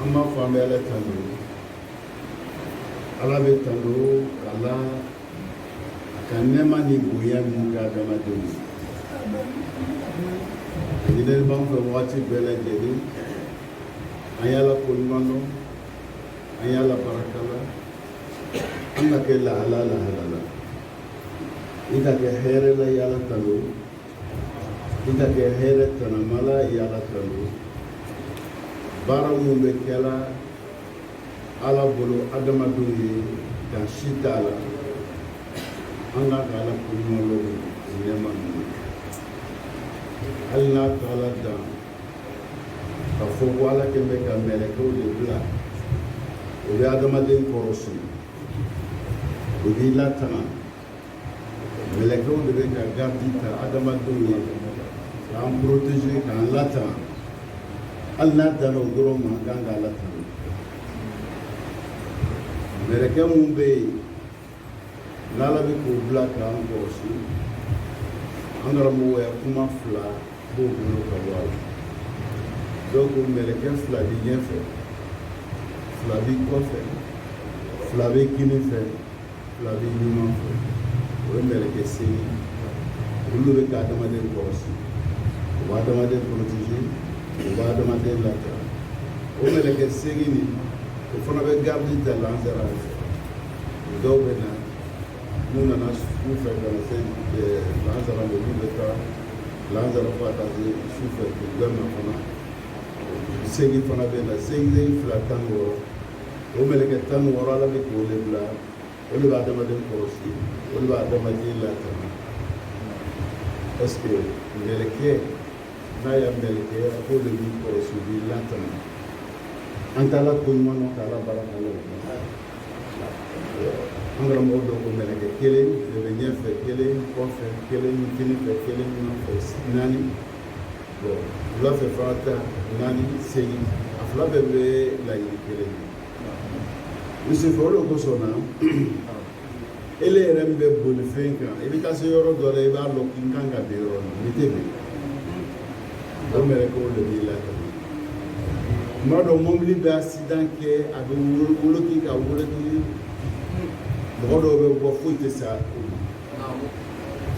an b'a fɔ an bɛ ala tando ala bɛ tando ka la a ka nɛɛma ni bonya min k'a dama don ɲininen b'an fɛ wagati bɛɛ lajɛlen an y'ala ko ɲuman dɔn an y'ala barika la an ka kɛ lahala lahala la i ka kɛ hɛrɛ la y'ala tando I ka kɛ hɛrɛ tanama la y'ala tando baara minnu bɛ kɛ la ala bolo adamadenw ye dan si t'a la an ka kan k'ala ko ɲuman lɔn nɛɛma ninnu hali n'a taala dan k'a fɔ ko ala kɛ bɛ ka mɛlɛkɛw de bila o bɛ adamaden kɔrɔsi o b'i latanga Mɛlɛkɛw de bɛ ka garde ta adamadenw ye k'an protéger k'an latanga hali n'a danna o dɔrɔn ma an kan k'ala tando mɛlɛkɛ minnu bɛ yen n'Ala bɛ k'u bila k'an kɔlɔsi an karamɔgɔw ya kuma fila b'o bolo ka bɔ a la dɔw ko mɛlɛkɛ fila bɛ ɲɛfɛ fila bɛ kɔfɛ fila bɛ kinin fɛ fila bɛ numan fɛ o ye mɛlɛkɛ segin ye olu bɛ ka adamaden kɔlɔsi u bɛ adamaden protéger u bɛ adamaden lafiya o mɛlɛkɛ segin nin o fana bɛ garidi ta lansara fɛ dɔw bɛ na n'u nana su fɛ ka na se lansara ma olu bɛ taa lansara fo ka taa se su fɛ k'u bɛ na fana segin fana bɛ na segin fila tan ni wɔɔrɔ o mɛlɛkɛ tan ni wɔɔrɔ ala bɛ k'o de bila o de bɛ adamaden kɔlɔsi o de bɛ adamaden latanga parce que mɛlɛkɛ n'a y'a mɛlɛkɛ a k'o de b'i kɔlɔsi o b'i latanga an k'ala ko ɲuman dɔn k'ala barika la o an karamɔgɔ dɔ ko mɛlɛkɛ kelen de bɛ ɲɛfɛ kelen kɔfɛ kelen kinin fɛ kelen numan fɛ naani wula fɛ fana ta naani segin a fila bɛɛ bɛ laɲini kelen ye misifɛ o de kosɔn na ele yɛrɛ min bɛ bolifɛn kan i bɛ taa se yɔrɔ dɔ la i b'a dɔn k'i kan ka bin yɔrɔ nin n'i tɛ bin o mɛlɛkɛw de b'i la tuma dɔ mɔbili bɛ asidan kɛ a bɛ woloki ka woloki mɔgɔ dɔw bɛ bɔ foyi tɛ sa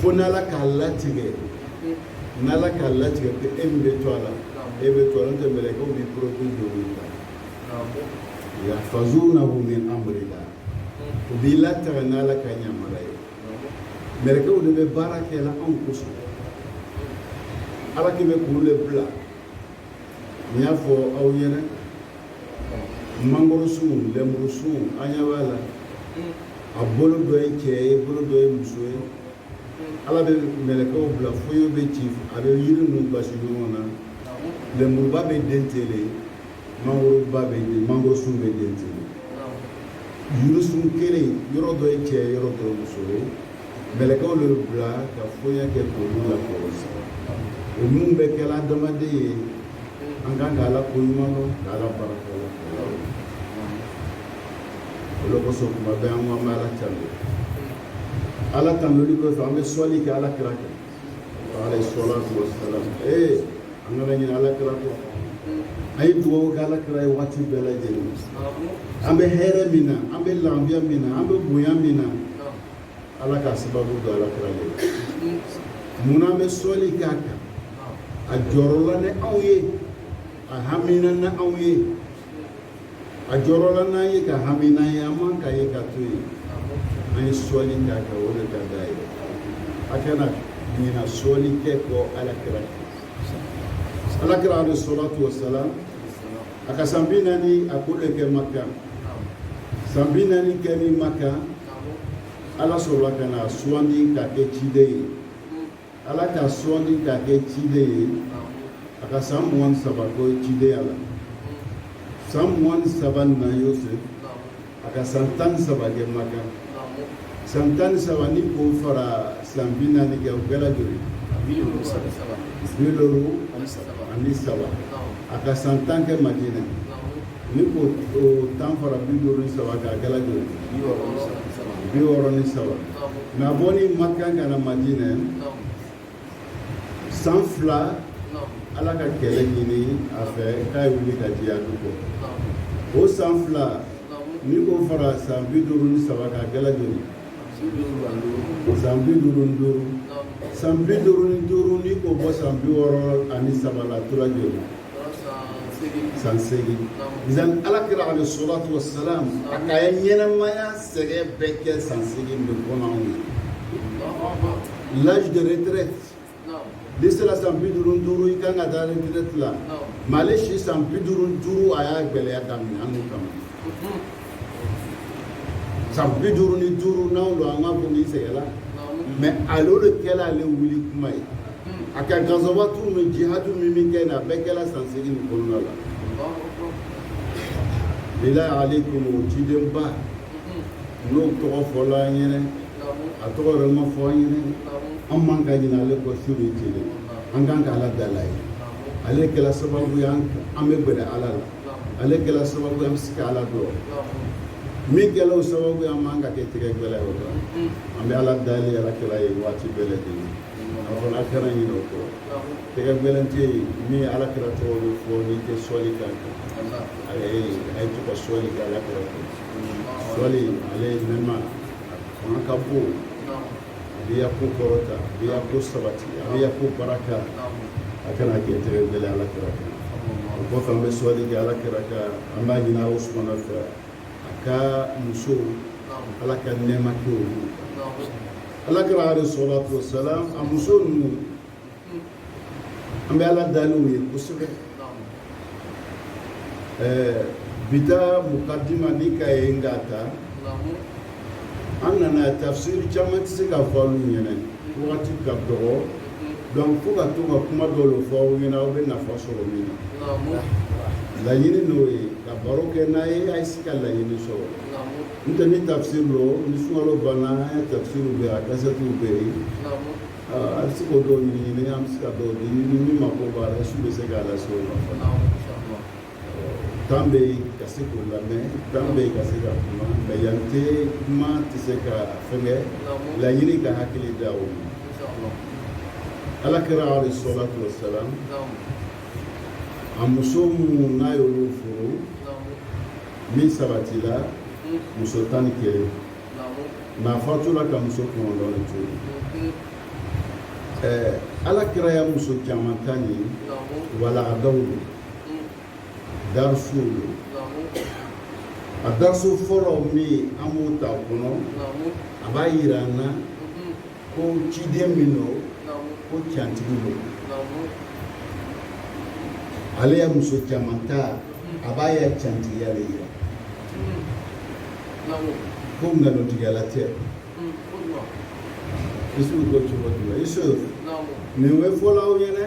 fo n'ala k'a latigɛ n'ala k'a latigɛ ko e min bɛ to a la e bɛ to a la n'o tɛ mɛlɛkɛw b'i protéger don olu la yahfazunahu min amrillah u b'i latanga n'ala ka yamaruya ye mɛlɛkɛw de bɛ baara kɛ la anw kosɔn ala kɛ bɛ k'olu de bila n y'a fɔ aw ɲɛna mangoro sun lenburu sun an ɲɛ b'a la a bolo dɔ ye cɛ ye bolo dɔ ye muso ye ala bɛ mɛlɛkɛw bila fɔɲɔ bɛ ci a bɛ yiri ninnu basi ɲɔgɔn na lenburuba bɛ den ten le mangoroba bɛ den mangoro sun bɛ den ten le yirisun kelen yɔrɔ dɔ ye cɛ yɔrɔ dɔ ye muso ye mɛlɛkɛw de bila ka fɔɲɔ kɛ k'olu lakɔlɔsi o minnu bɛ kɛla adamaden ye an kan ka ala ko ɲuman dɔn ka ala barika la o de kosɔn kuma bɛɛ an ko an bɛ ala tanu ala tanuli kɔfɛ an bɛ sɔli kɛ ala kira kan alayhi salatu wassalam ee an kana ɲinɛ ala kira kɔ an ye dugawu kɛ ala kira ye waati bɛɛ lajɛlen an bɛ hɛrɛ min na an bɛ lafiya min na an bɛ bonya min na ala ka sababu don ala kira ye munna an bɛ sɔli k'a kan a jɔrɔla ni anw ye a hamina ni anw ye a jɔrɔla n'an ye ka hami n'an ye an man ka ye k'a to yen an ye sɔli k'a kan o de ka d'a ye a kana ɲina sɔli kɛ kɔ ala kira kan ala kira alayhi salatu wasalam a ka san bi naani hakɛ de kɛ makan san bi naani kɛnin makan ala sɔrɔla ka na a suwandi k'a kɛ ciden ye ala k'a suwandi k'a kɛ ciden ye a ka san mugan ni saba kɛ cidenya la san mugan ni saba n'an y'o se a ka san tan ni saba kɛ makan san tan ni saba n'i k'o fara san bi naani kan o kɛla joli bi duuru ani saba a ka san tan kɛ madina n'i k'o tan fara bi duuru ni saba kan a kɛla joli bi wɔɔrɔ ni saba mais a bɔnin makan ka na madina san fila ala ka kɛlɛ ɲini a fɛ k'a ye wuli ka jihadu kɛ o san fila n'i k'o fara san bi duuru ni saba kan a kɛla joli san bi duuru ni duuru san bi duuru ni duuru n'i k'o bɔ san bi wɔɔrɔ ani saba la tola joli san seegin zan ala kira alayhi salatu wasalam a ka ye ɲɛnamaya sɛgɛn bɛɛ kɛ san seegin de kɔnɔ anw ye l'âge de retraite n'i sera san bi duuru ni duuru i kan ka taa retraite la mais ale si san bi duuru ni duuru a y'a gɛlɛya daminɛ anw kama san bi duuru ni duuru n'anw don an k'a fɔ n'i sɛgɛnna mais ale de kɛra ale wuli tuma ye a ka gazawatu ni jihadu min bɛ kɛ nin a bɛɛ kɛra san seegin nin kɔnɔna la bilayi alayikum o cidenba n'o tɔgɔ fɔla an ɲɛnɛ a tɔgɔ yɛrɛ ma fɔ an ɲɛnɛ an man ka ɲinɛ ale kɔ su ni tile an kan ka ala dal'a ye ale kɛra sababu ye an bɛ gɛrɛ ala la ale kɛra sababu ye an bɛ se ka ala dɔn min kɛra o sababu ye an man ka kɛ tɛgɛ gɛlɛn ye o la an bɛ ala dali alakira ye waati bɛɛ lajɛlen a kana ɲinɛ o kɔ tɛgɛ gɛlɛn tɛ yen min ye alakira tɔgɔ bɛ fɔ n'i tɛ sɔli kan a ye a ye to ka sɔli kɛ alakira kan sɔli ale ye nɛma a fanga ka bon a bɛ i ya ko kɔrɔta a bɛ i ya ko sabati a bɛ i ya ko baraka a kana kɛ tɛgɛ gɛlɛn alakira kɔ o kɔfɛ an bɛ sɔli kɛ alakira kan an b'a ɲini ala subuhana fɛ a ka musow ala ka nɛɛma kɛ olu alakira alayi salatu wasalamu a muso ninnu an bɛ ala dali u ye kosɛbɛ ɛɛ bi ta mukadima n'i k'a ye n k'a ta an nana tafsiri caman tɛ se ka fɔ olu ɲɛna wagati ka dɔgɔ donc fo ka to ka kuma dɔw de fɔ aw ɲɛna aw bɛ nafa sɔrɔ min na laɲini n'o ye ka baro kɛ n'a ye a ye se ka laɲini sɔrɔ N tɛ ni tafsiri don ni sumaworo banna an ya tafsiri bɛɛ a kasɛtiw bɛ yen a bɛ se ka dɔw ɲini an bɛ se ka dɔw di min mako b'a la su bɛ se k'a lase o ma tan bɛ yen ka se k'o lamɛn tan bɛ yen ka se ka kuma nka yan tɛ kuma tɛ se ka fɛnkɛ laɲini ka hakili d'aw ma alakira alayi salatu wasalamu a muso minnu n'a y'olu furu min sabatila muso tan ni kelen mais a fatura ka muso kɔnɔntɔn de to yen ɛɛ ala kira ya muso caman tani walandaw don darusuw don a darusu fɔlɔ min an b'o ta o kɔnɔ a b'a yira an na ko ciden min don ko cantigi don ale ye muso caman ta a b'a ya cantigiya de yira ko nkalontigɛla tɛ isuw ko cogo jumɛn isu nin bɛ fɔla aw ye dɛ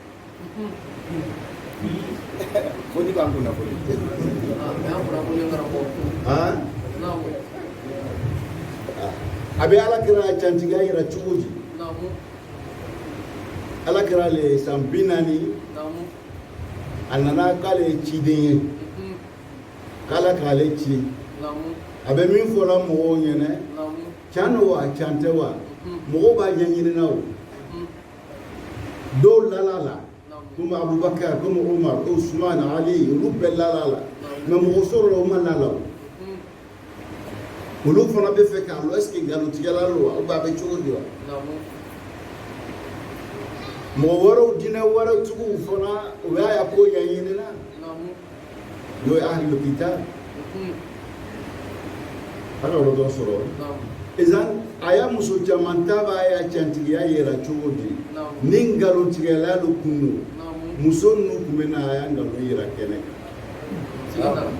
Foli b'an kun nafolo. A bɛ ala kira cantigiya yira cogo di ala kira ale san bi naani a nana k'ale ye ciden ye k'ala k'ale ci a bɛ min fɔra mɔgɔw ɲɛna can don wa can tɛ wa mɔgɔw b'a ɲɛɲinina o dɔw lala a la komi abubakar komi umar ko usman ali olu bɛɛ lala a la mɛ mɔgɔ sɔrɔla u ma la a la olu fana bɛ fɛ k'a lɔn est ce que nkalontigɛla don wa ubiyɛn a bɛ cogo di wa mɔgɔ wɛrɛw diinɛ wɛrɛw tigiw fana u y'a ya ko ɲɛɲini na N'o ye ahli le kitab an ka yɔrɔ dɔ sɔrɔ ezan a ya muso caman ta b'a ya cantigiya yira cogo di ni nkalontigɛla de kun don muso ninnu tun bɛ na a ya nkalon yira kɛnɛ kan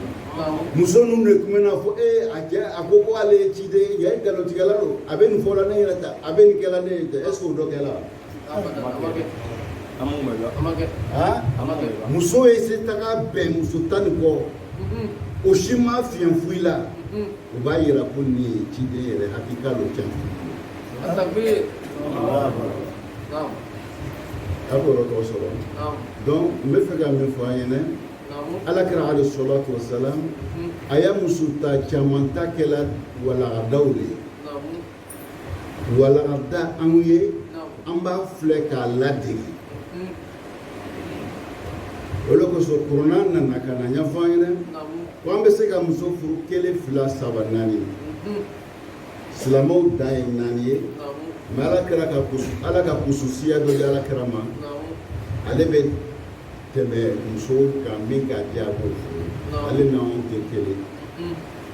muso ninnu de tun bɛ n'a fɔ ee a cɛ a ko ko ale ye ciden ye yan nkalontigɛla don a bɛ nin fɔ la ne yɛrɛ ta a bɛ nin kɛla ne yɛrɛ ta est ce que o dɔ kɛla muso ye se taga bɛn muso tan ni kɔ o si ma fiɲɛ foyi la o b'a yira ko nin ye ciden yɛrɛ hakiika lo cɛ a b'o yɔrɔ tɔgɔ sɔrɔ donc n bɛ fɛ ka min fɔ an ɲɛna alakira alayi salatu wasalam a ya muso ta caman ta kɛla walandaw de ye walanda anw ye an b'a filɛ k'a ladege hmm. o de kosɔn kurana nana ka n'a ɲɛfɔ an ɲɛna ko an bɛ se ka muso furu kelen fila saba naani hmm. silamɛw dan ye naani ye mɛ alakira ka kusu ala ka kususiya dɔ di alakira ma ale bɛ tɛmɛ muso kan min k'a diya a b'o furu ale n'anw tɛ kelen hmm.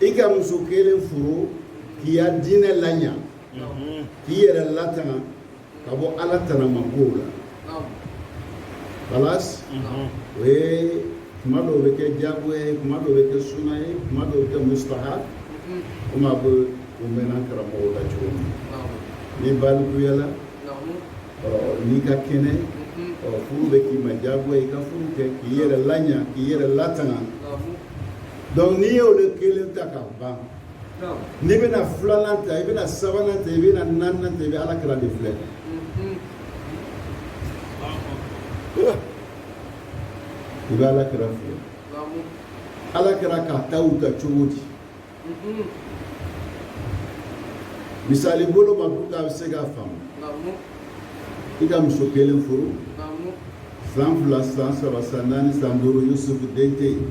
i ka muso kelen furu k'i ya diinɛ laɲa k'i yɛrɛ latanga ka bɔ ala tanamakow la balas o ye kuma dɔw bɛ kɛ jago ye kuma dɔw bɛ kɛ suna ye kuma dɔw bɛ kɛ mustahab komi a bɛ o mɛnna karamɔgɔw la cogo min ni balikuyala n'i ka kɛnɛ furu bɛ k'i ma jago ye i ka furu kɛ k'i yɛrɛ laɲa k'i yɛrɛ latanga donc n'i ye olu kelen ta ka ban n'i bɛna filanan ta i bɛna sabanan ta i bɛna naaninan ta i bɛ alakira de filɛ i bɛ alakira filɛ alakira k'a taw ta cogo di misali bolo ma pour que a bɛ se k'a faamu i ka muso kelen furu san fila san saba san naani san duuru yusufu den tɛ yen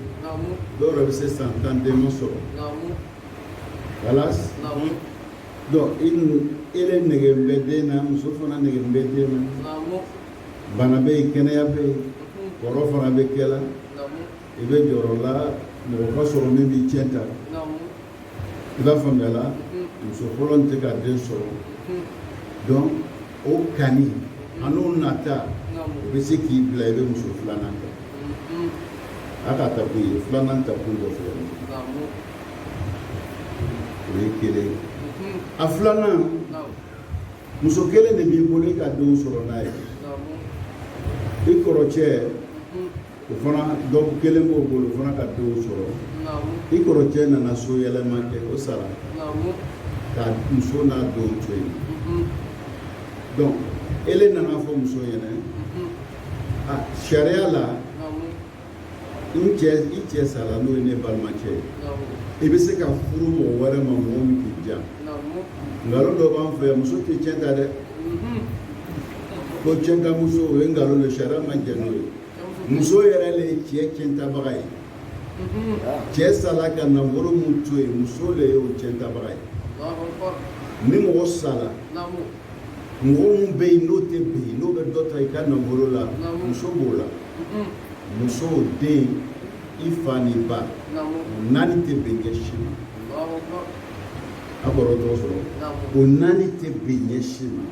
dɔw yɛrɛ bɛ se san tan den ma sɔrɔ kalas donc i ele nege bɛ den na muso fana nege bɛ den na bana bɛ yen kɛnɛya bɛ yen kɔrɔ fana bɛ kɛla i bɛ jɔrɔla mɔgɔ ka sɔrɔ min b'i cɛn ta i b'a faamuya la muso fɔlɔ tɛ ka den sɔrɔ donc o kanu an'o nata o bɛ se k'i bila i bɛ muso filanan ta a ka ta kun ye filanan ta kun dɔ filɛ o ye kelen a filanan muso kelen de b'i bolo i ka denw sɔrɔ n'a ye i kɔrɔcɛ o fana dɔw kelen b'o bolo o fana ka denw sɔrɔ i kɔrɔcɛ nana soyɛlɛma kɛ o sara ka muso n'a denw to yen mhm. donc ele nan'a fɔ muso ɲɛna mhm. a ah, sariya la n cɛ i cɛ sara n'o ye ne balimacɛ ye i bɛ se ka furu mɔgɔ wɛrɛ ma mɔgɔ min k'i diya nkalon dɔ b'an fɛ muso tɛ cɛn ta dɛ mhm. ko cɛnta muso o ye nkalon de sariya ma jɛn n'o ye muso yɛrɛ de ye cɛ cɛntabaga ye cɛ sala ka nafolo min to yen muso de ye o cɛntabaga ye ni mɔgɔ sala mɔgɔ min bɛ yen n'o tɛ bin n'o bɛ dɔ ta i ka nafolo la muso b'o la muso den i fa n'i ba naani tɛ bin ɲɛ si ma a kɔrɔ tɔgɔ sɔrɔ o naani tɛ bin ɲɛ si ma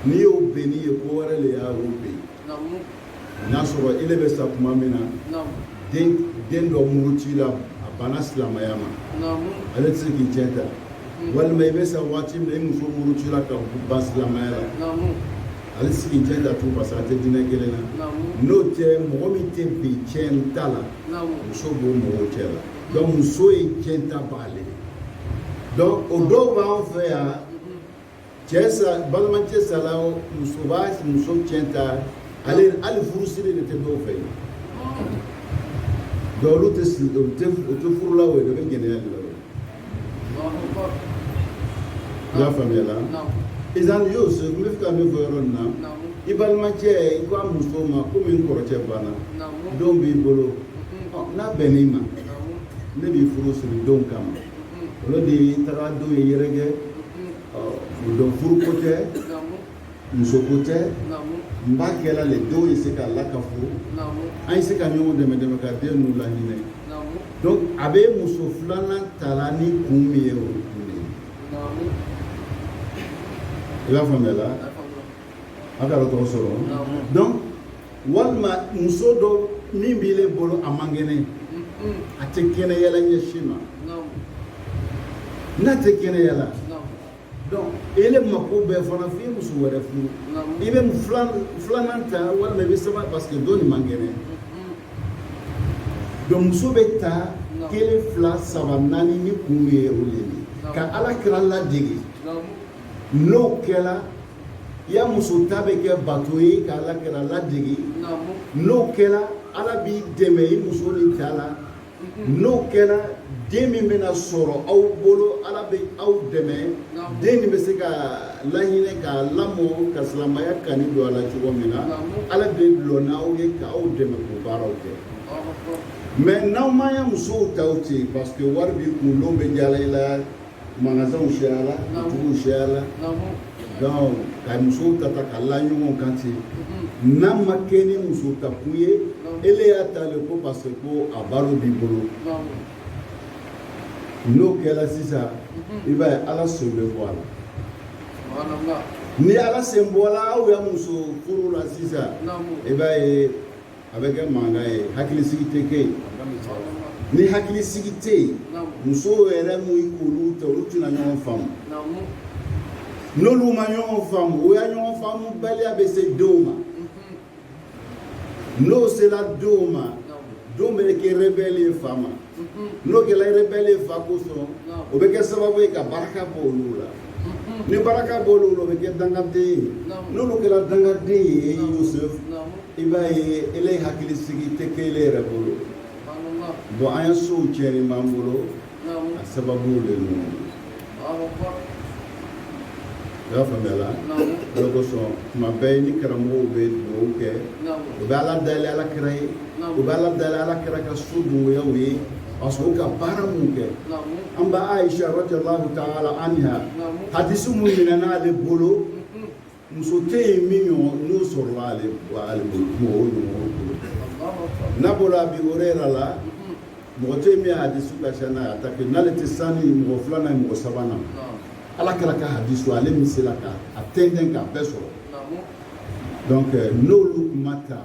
n'i y'o binnen ye ko wɛrɛ de y'a bin n'a sɔrɔ ele bɛ sa tuma min na den dɔ murutila a banna silamɛya ma ale tɛ se k'i cɛn ta walima i bɛ sa waati min i muso murutila ka ban silamɛya la ale tɛ se k'i cɛn ta tugun parce que a tɛ diinɛ kelen na n'o tɛ mɔgɔ min tɛ bin cɛnta la muso b'o mɔgɔw cɛ la donc muso ye cɛntabaa le donc o dɔw b'an fɛ yan cɛ sa balimacɛ sala muso b'a muso cɛn ta le hali furusiri de tɛ dɔw fɛ yen donc olu tɛ siri dɔn u tɛ furula o yɛrɛ bɛ gɛlɛya de la i y'a faamuya la sisan y'o se n bɛ fɛ ka min fɔ yɔrɔ nin na i balimacɛ i ko a muso ma komi n kɔrɔcɛ banna denw b'i bolo n'a bɛnn'i ma ne b'i furu siri denw kama olu de ye taga denw ye yɛrɛkɛ donc furuko tɛ musoko tɛ n b'a kɛla le denw ye se ka lakafo an ye se ka ɲɔgɔn dɛmɛ dɛmɛ ka den ninnu laminɛ donc a bɛ muso filanan tala ni kun min ye o kun de ye i b'a faamuya la a ka dɔgɔtɔrɔ sɔrɔ donc walima muso dɔ min b'i le bolo a man kɛnɛ a tɛ kɛnɛyala ɲɛ si ma n'a tɛ kɛnɛyala donc ele mako bɛ fana f'i muso wɛrɛ furu i bɛ filanan ta walima i bɛ saba parce que dɔ nin man kɛnɛ donc muso bɛ ta kelen fila saba naani ni kun ye o de ye ka ala kira ladege n'o kɛra ya muso ta bɛ kɛ bato ye ka ala kira ladege n'o kɛra ala b'i dɛmɛ i muso ni ta la n'o kɛra den min bɛna sɔrɔ aw bolo ala bɛ aw dɛmɛ den nin bɛ se ka laɲinɛ ka lamɔ ka silamaya kani don a la cogo min na ala bɛ lɔ n'aw ye ka aw dɛmɛ k'o baaraw kɛ mais n'aw ma ya musow ta ten parce que wari b'i kun n'o bɛ jala i la magasinw siyala butiguw siyala donc ka musow ta ta ka la ɲɔgɔn kan ten n'a ma kɛ ni muso ta kun ye ele y'a ta le ko parce que ko a baro b'i bolo n'o kɛra sisan i b'a ye ala sen bɛ bɔ a la ni ala sen bɔra aw ya muso furu la sisan i b'a ye a bɛ kɛ mankan ye hakili sigi tɛ kɛ yen ni hakili sigi tɛ yen musow yɛrɛ min k'olu tɛ olu tɛna ɲɔgɔn faamu n'olu ma ɲɔgɔn faamu o ya ɲɔgɔn faamu baliya bɛ se denw ma n'o sera denw ma denw bɛ kɛ rebelle ye fa ma n'o kɛla i rebelle fa kosɔn o bɛ kɛ sababu ye ka barika bɔ olu la ni barika bɔ olu la o bɛ kɛ dangaden ye n'olu kɛra dangaden ye Yusuf i b'a ye ele hakili sigi tɛ kɛ ele yɛrɛ bolo bon an ya sow tiɲɛnin b'an bolo a sababu le ninnu I y'a faamuya la o de kosɔn tuma bɛɛ ni karamɔgɔw bɛ dugawu kɛ u bɛ ala dali ala kira ye u bɛ ala dali ala kira ka so denbayaw ye parce que o ka baara min kɛ an ba Ayisa radiyalahu taala anha hadisi min minɛna ale bolo muso tɛ yen min n'o sɔrɔ ale mɔgɔw n'a bɔra Abi Hurayra la mɔgɔ tɛ yen min hadisu ka ca n'a ta n'ale tɛ sani mɔgɔ filanan ye mɔgɔ sabanan na ala kira ka hadisu ale min sera ka a tɛntɛn k'a bɛɛ sɔrɔ donc n'olu kuma ta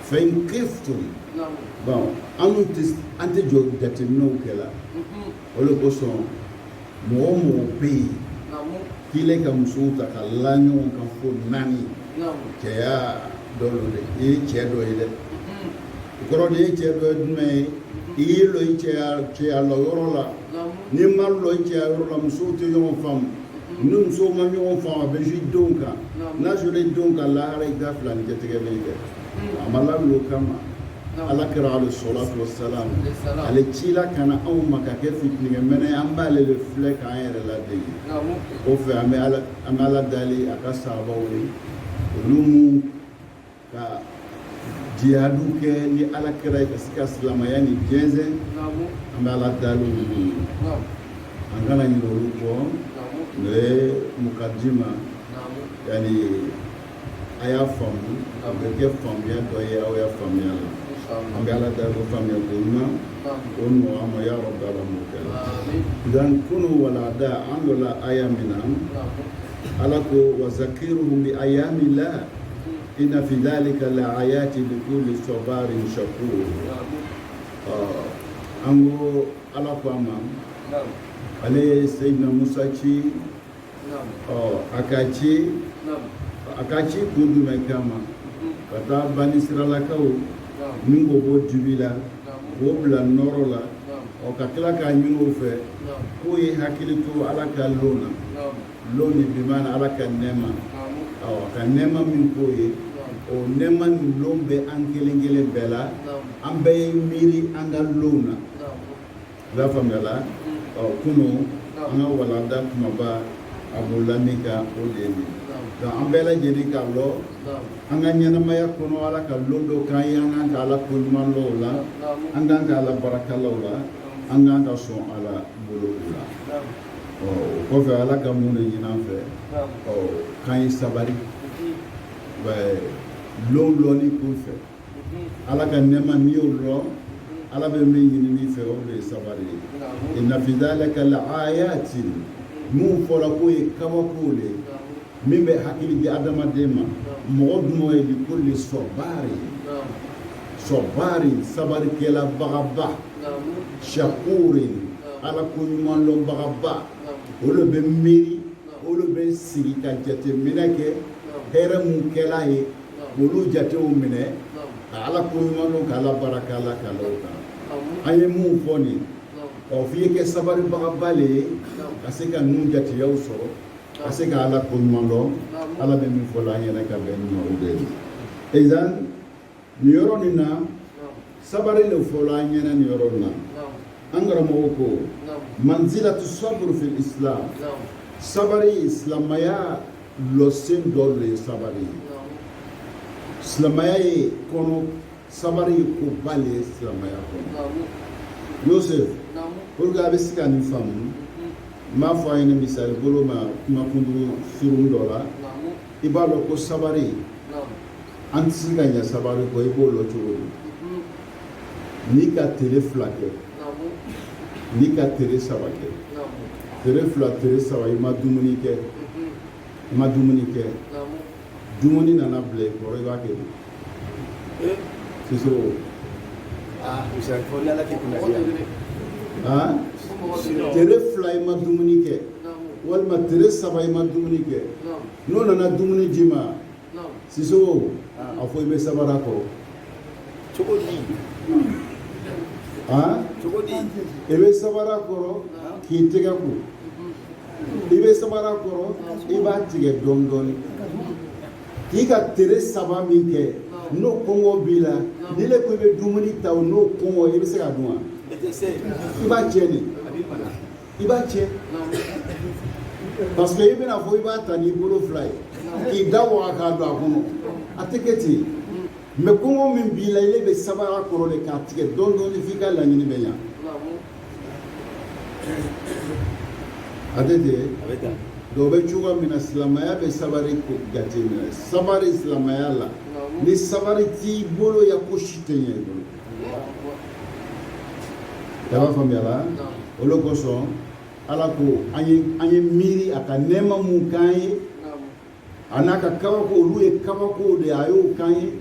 Fa in khiftum naam bon an dun tɛ an tɛ o jateminɛw kɛla o de kosɔn mɔgɔ o mɔgɔ bɛ yen naam k'i ka musow ta ka la ɲɔgɔn kan fo naani naam cɛya dɔ don dɛ i ye cɛ dɔ ye dɛ o kɔrɔ de ye cɛ dɔ ye jumɛn ye i y'i lɔ i cɛya cɛya lɔ yɔrɔ la naam n'i ma lɔ i cɛya yɔrɔ la musow tɛ ɲɔgɔn faamu ni musow ma ɲɔgɔn faamu a bɛ se denw kan n'a sera denw kan lahara i ka fila ni jatigɛ bɛ kɛ a ma laminɛ o kama ala kira alayhi solatu wassalam ale ci la ka na anw ma ka kɛ fitinikɛ mɛnɛ ye an b'ale de filɛ k'an yɛrɛ ladege o fɛ an bɛ ala an bɛ ala dali a ka sahabaw ye olu min ka jihadu kɛ ni ala kira ye ka se ka silamaya nin jɛnsɛn an bɛ ala dali olu ye an kana ɲinɛ olu kɔ n'o ye mukadima yani a y'a faamu a bɛ kɛ faamuya dɔ ye aw y'a faamuya la an bɛ ala dali ko faamuya ko ɲuman o nɔgɔ an ma y'a yɔrɔ da la mɔkɛ la dan kunun walanda an lɔla aya min na ala ko wazakiruhum bi ayamillah inna fi zalika la ayati likulli sɔbarin sakur ɔ an ko ala ko a ma ale ye seyidina musa ci a ka ci a ka ci kun jumɛn kama ka taa bani isirayilakaw minɛ k'o bɔ dibi la k'o bila nɔrɔ la ɔ ka tila k'a ɲini o fɛ k'o ye hakili to ala ka lon na lon nin bimaana ala ka nɛɛma a ka nɛɛma min k'o ye o nɛɛma nin lon bɛ an kelen kelen bɛɛ la an bɛɛ ye miiri an ka lon na N'a faamuyala ɔ kunun an ka walanda kumaba a bolola min kan o de ye nin nka an bɛɛ lajɛlen k'a lɔn an ka ɲɛnamaya kɔnɔ ala ka lon dɔ k'an ye an kan ka ala ko ɲuman lɔn o la an kan ka ala baraka la o la an kan ka sɔn ala bolo o la ɔ o kɔfɛ ala ka mun de ɲini an fɛ ɔ k'an ye sabari lon lɔni kun fɛ ala ka nɛɛma n'i y'o dɔn ala bɛ min ɲini i fɛ o de ye sabari ye inna fi zalika la ayati min fɔla k'o ye kabakow de ye min bɛ hakili di adamaden ma mɔgɔ jumɛn ye likulli sɔbaari sɔbaari sabarikɛlabagaba shakuri ala ko ɲuman dɔnbagaba olu bɛ miiri olu bɛ sigi ka jateminɛ kɛ hɛrɛ min kɛla ye olu jatew minɛ ka ala ko ɲuman lɔn ka ala baraka ala ka lonw kan an ye min fɔ nin ɔ f'i ye kɛ sabaribagaba le ye ka se ka ninnu jateyaw sɔrɔ ka se ka ala ko ɲuman dɔn ala bɛ min fɔ la an ɲɛna ka bɛn ɲuman o de ye sisan nin yɔrɔ nin na sabari le fɔla an ɲɛna nin yɔrɔ la an karamɔgɔ ko manzilatu sɔburu fil islam sabari ye silamaya lɔsen dɔ de ye sabari ye silamaya ye kɔnɔ sabari ye koba de ye silamaya kɔnɔ yosef pour que a bɛ se ka nin faamu n b'a fɔ a ɲɛna misali bolo ma kuma kunkurun surun dɔ la i b'a dɔn ko sabari an tɛ se ka ɲɛ sabari kɔ i b'o lɔn cogo di n'i ka tere fila kɛ n'i ka tere saba kɛ tere fila tere saba i ma dumuni kɛ i ma dumuni kɛ dumuni nana bila i kɔrɔ i b'a kɛ di siso tere fila i ma dumuni kɛ walima tere saba i ma dumuni kɛ n'o nana dumuni di i ma siso a fɔ i bɛ sabari a kɔrɔ cogo di cogo di i bɛ sabari a kɔrɔ k'i tɛgɛ ko i bɛ sabari a kɔrɔ i b'a tigɛ dɔɔni dɔɔni k'i ka tere saba min kɛ n'o kɔngɔ b'i la n'ile ko i bɛ dumuni ta o n'o kɔngɔ i bɛ se k'a dun wa i b'a tiɲɛ de i b'a tiɲɛ parce que i bɛna fɔ i b'a ta n'i bolo fila ye k'i da waga k'a don a kɔnɔ a tɛ kɛ ten mais kɔngɔ min b'i la ile bɛ sabari a kɔrɔ de k'a tigɛ dɔɔni dɔɔni f'i ka laɲini bɛ ɲa a tɛ ten dɔw bɛ cogoya min na silamɛya bɛ sabari jateminɛ sabari silamɛya la ni sabari t'i bolo i ya ko si tɛ ɲɛ i bolo i b'a faamuya la o de kosɔn ala ko an ye an ye miiri a ka nɛɛma mun k'an ye a n'a ka kabako olu ye kabakow de ye a y'o k'an ye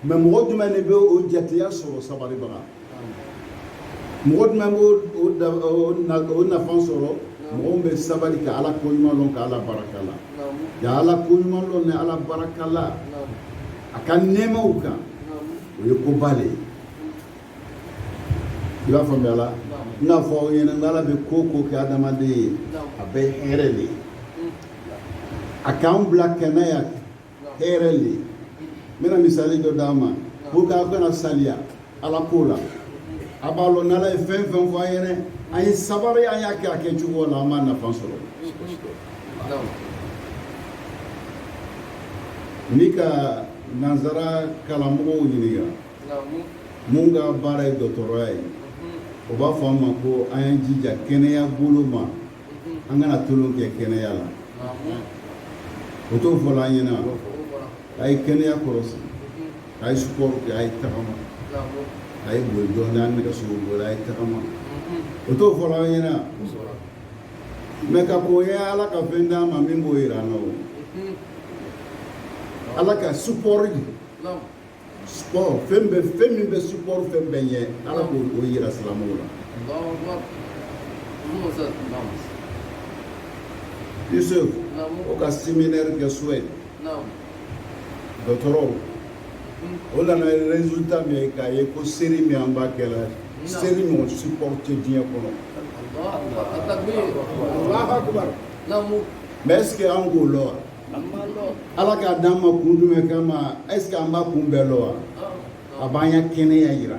mais mɔgɔ jumɛn de bɛ o jateya sɔrɔ sabaribaga mɔgɔ jumɛn b'o o nafa sɔrɔ mɔgɔ min bɛ sabali ka ala koɲuman dɔn ka ala barika la ka ala koɲuman dɔn ni ala barika la a ka nɛɛmaw kan o ye koba de ye i b'a faamuya la n k'a fɔ aw ɲɛna n'ala bɛ ko o ko kɛ adamaden ye a bɛɛ hɛrɛ de ye a k'an bila kɛnɛya hɛrɛ de ye n bɛna misali dɔ d'a ma pour que aw kana saliya ala ko la a b'a lɔn n'ala ye fɛn o fɛn fɔ an ɲɛna an ye sabari an y'a kɛ a kɛcogo la an b'a nafa sɔrɔ n'i ka nansara kalanmɔgɔw ɲininka mun ka baara ye dɔgɔtɔrɔya ye o b'a fɔ an ma ko an y'an jija kɛnɛya bolo ma an kana tolon kɛ kɛnɛya la o t'o fɔla an ɲɛna a ye kɛnɛya kɔlɔsi a ye sport kɛ a ye tagama a ye boli dɔɔnin an nɛgɛso boli a ye tagama o t'o fɔla an ɲɛna mais ka kɔn ye Ala ka fɛn d'an ma min b'o yira an na o. Ala ka sport di. Naamu. Sport fɛn bɛ fɛn min bɛ sport fɛn bɛɛ ɲɛ Ala k'o o yira silamɛw la. Alahu akibar. Naamu Ustaz. Naamu. Yusuf. Naamu. O ka séminaire kɛ Suède. Naamu. Dɔgɔtɔrɔw. o nana résultat min ye k'a ye ko seri min an b'a kɛla seri ɲɔgɔn sport tɛ diɲɛ kɔnɔ mais est ce que an k'o lɔn wa ala k'a d'an ma kun jumɛn kama est ce que an b'a kun bɛɛ lɔn wa a b'an ya kɛnɛya yira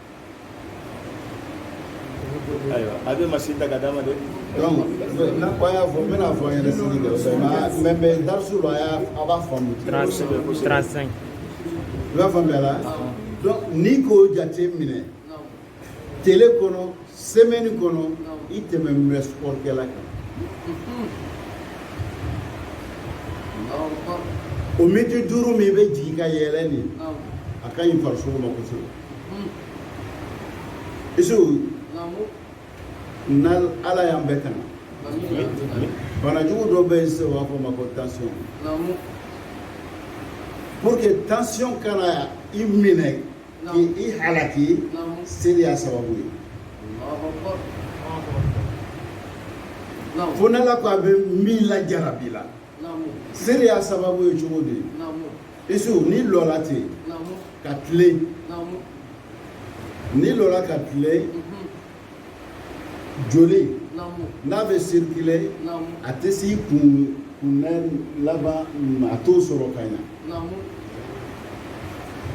ayiwa a bɛ masini ta ka d'a ma dɛ donc n'a ko an y'a fɔ n bɛna fɔ an yɛrɛ sigi kɛ fɛn mais mais darisu la a b'a faamu 35 i b'a faamuya la donc n'i k'o jate minɛ tele kɔnɔ semaine kɔnɔ i tɛmɛnin bɛ sport kɛla kan o miniti duuru min i bɛ jigin ka yɛlɛn nin a ka ɲi farisogo ma kosɛbɛ isu na ala y'an bɛɛ tanga banajugu dɔ bɛ yen sisan u b'a fɔ o ma ko tansiyɔn pour que tansiyɔn kana i minɛ k'i i halaki seri y'a sababu ye fo n'ala ko a bɛ min lajarabi la seri y'a sababu ye cogo di isu n'i lɔla ten ka tilen n'i lɔla ka tilen mhm. joli n'a bɛ circuler a tɛ s'i kun kunbɛn laban a t'o sɔrɔ ka ɲa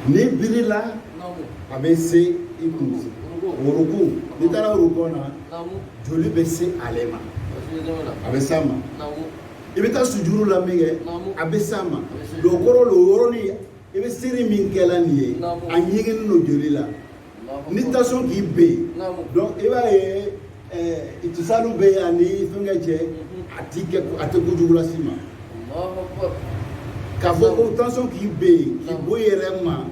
n'i birila a bɛ se i kun ruku n'i taara ruku na joli bɛ se ale ma a bɛ s'a ma i bɛ taa sujuru la minkɛ a bɛ s'a ma donc o kɔrɔ le o yɔrɔnin i bɛ seri min kɛla nin ye a ɲɛgɛnnen lo joli la ni tansiyɔn k'i ben donc i b'a ye itisaliw eh, bɛ yen ani fɛnkɛ cɛ mhm. a ti kɛ a tɛ kojugu las'i ma k'a fɔ ko tansiyɔn k'i ben k'i bɔ i yɛrɛ ma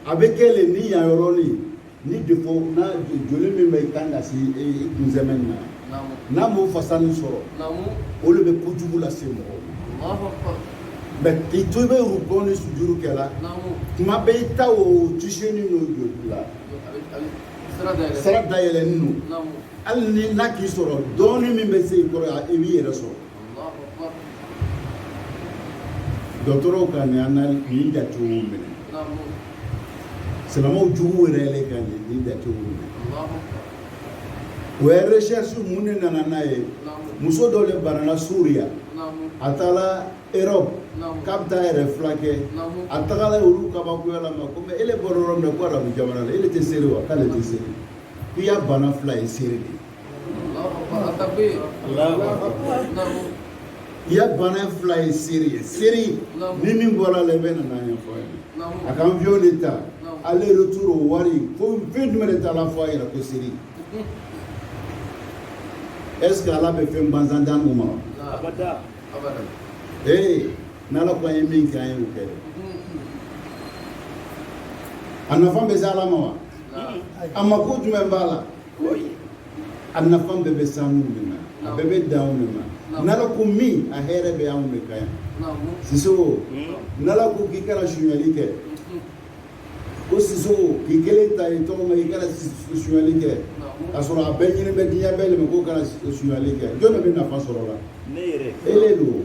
a bɛ kɛ le ni yan yɔrɔnin ni des fois n'a joli min bɛ kan ka se i kunsɛmɛ na n'a m'o fasa nin sɔrɔ o le bɛ kojugu lase mɔgɔw ma mais k'i to i bɛ ruku ni sujuru kɛla tuma bɛɛ i ta o tise ni n'o joli la sira dayɛlɛnin don hali ni n'a k'i sɔrɔ dɔɔnin min bɛ se i kɔrɔ i b'i yɛrɛ sɔrɔ dɔgɔtɔrɔw ka nin an nin jatew minɛ silamɛw jugu yɛrɛ yɛrɛ ka nin nin jatew minɛ o ye recherche mun de nana n'a ye muso dɔ de banana Siriya a taara erɔp k'a bɛ taa a yɛrɛ furakɛ a tagala olu kabakoyala a ma ko mais ele bɔra yɔrɔ min na ko arabu jamana la ele tɛ seri wa k'ale tɛ seri k'i ya bana fura ye seri de ye I ya bana in fura ye seri ye seri ni min bɔra la i bɛ nana ɲɛfɔ ye a ka avion de ta aller retour o wari ko fɛn jumɛn de t'a la fo a yɛrɛ ko seri est ce que ala bɛ fɛn bansan d'an ma ee n'ala ko an ye min kɛ an ye o kɛ a nafa bɛ se ala ma wa a mako jumɛn b'a la a nafa bɛɛ bɛ se anw de ma a bɛɛ bɛ dan anw de ma n'ala ko min a hɛrɛ bɛ anw de kan yan Sisoko n'ala ko k'i kana sunyali kɛ ko Sisoko k'i kelen ta ye tɔgɔ ma i kana sunyali kɛ k'a sɔrɔ a bɛɛ ɲini bɛ diɲɛ bɛɛ de ma k'o kana sunyali kɛ jɔn de bɛ nafa sɔrɔ o la e le don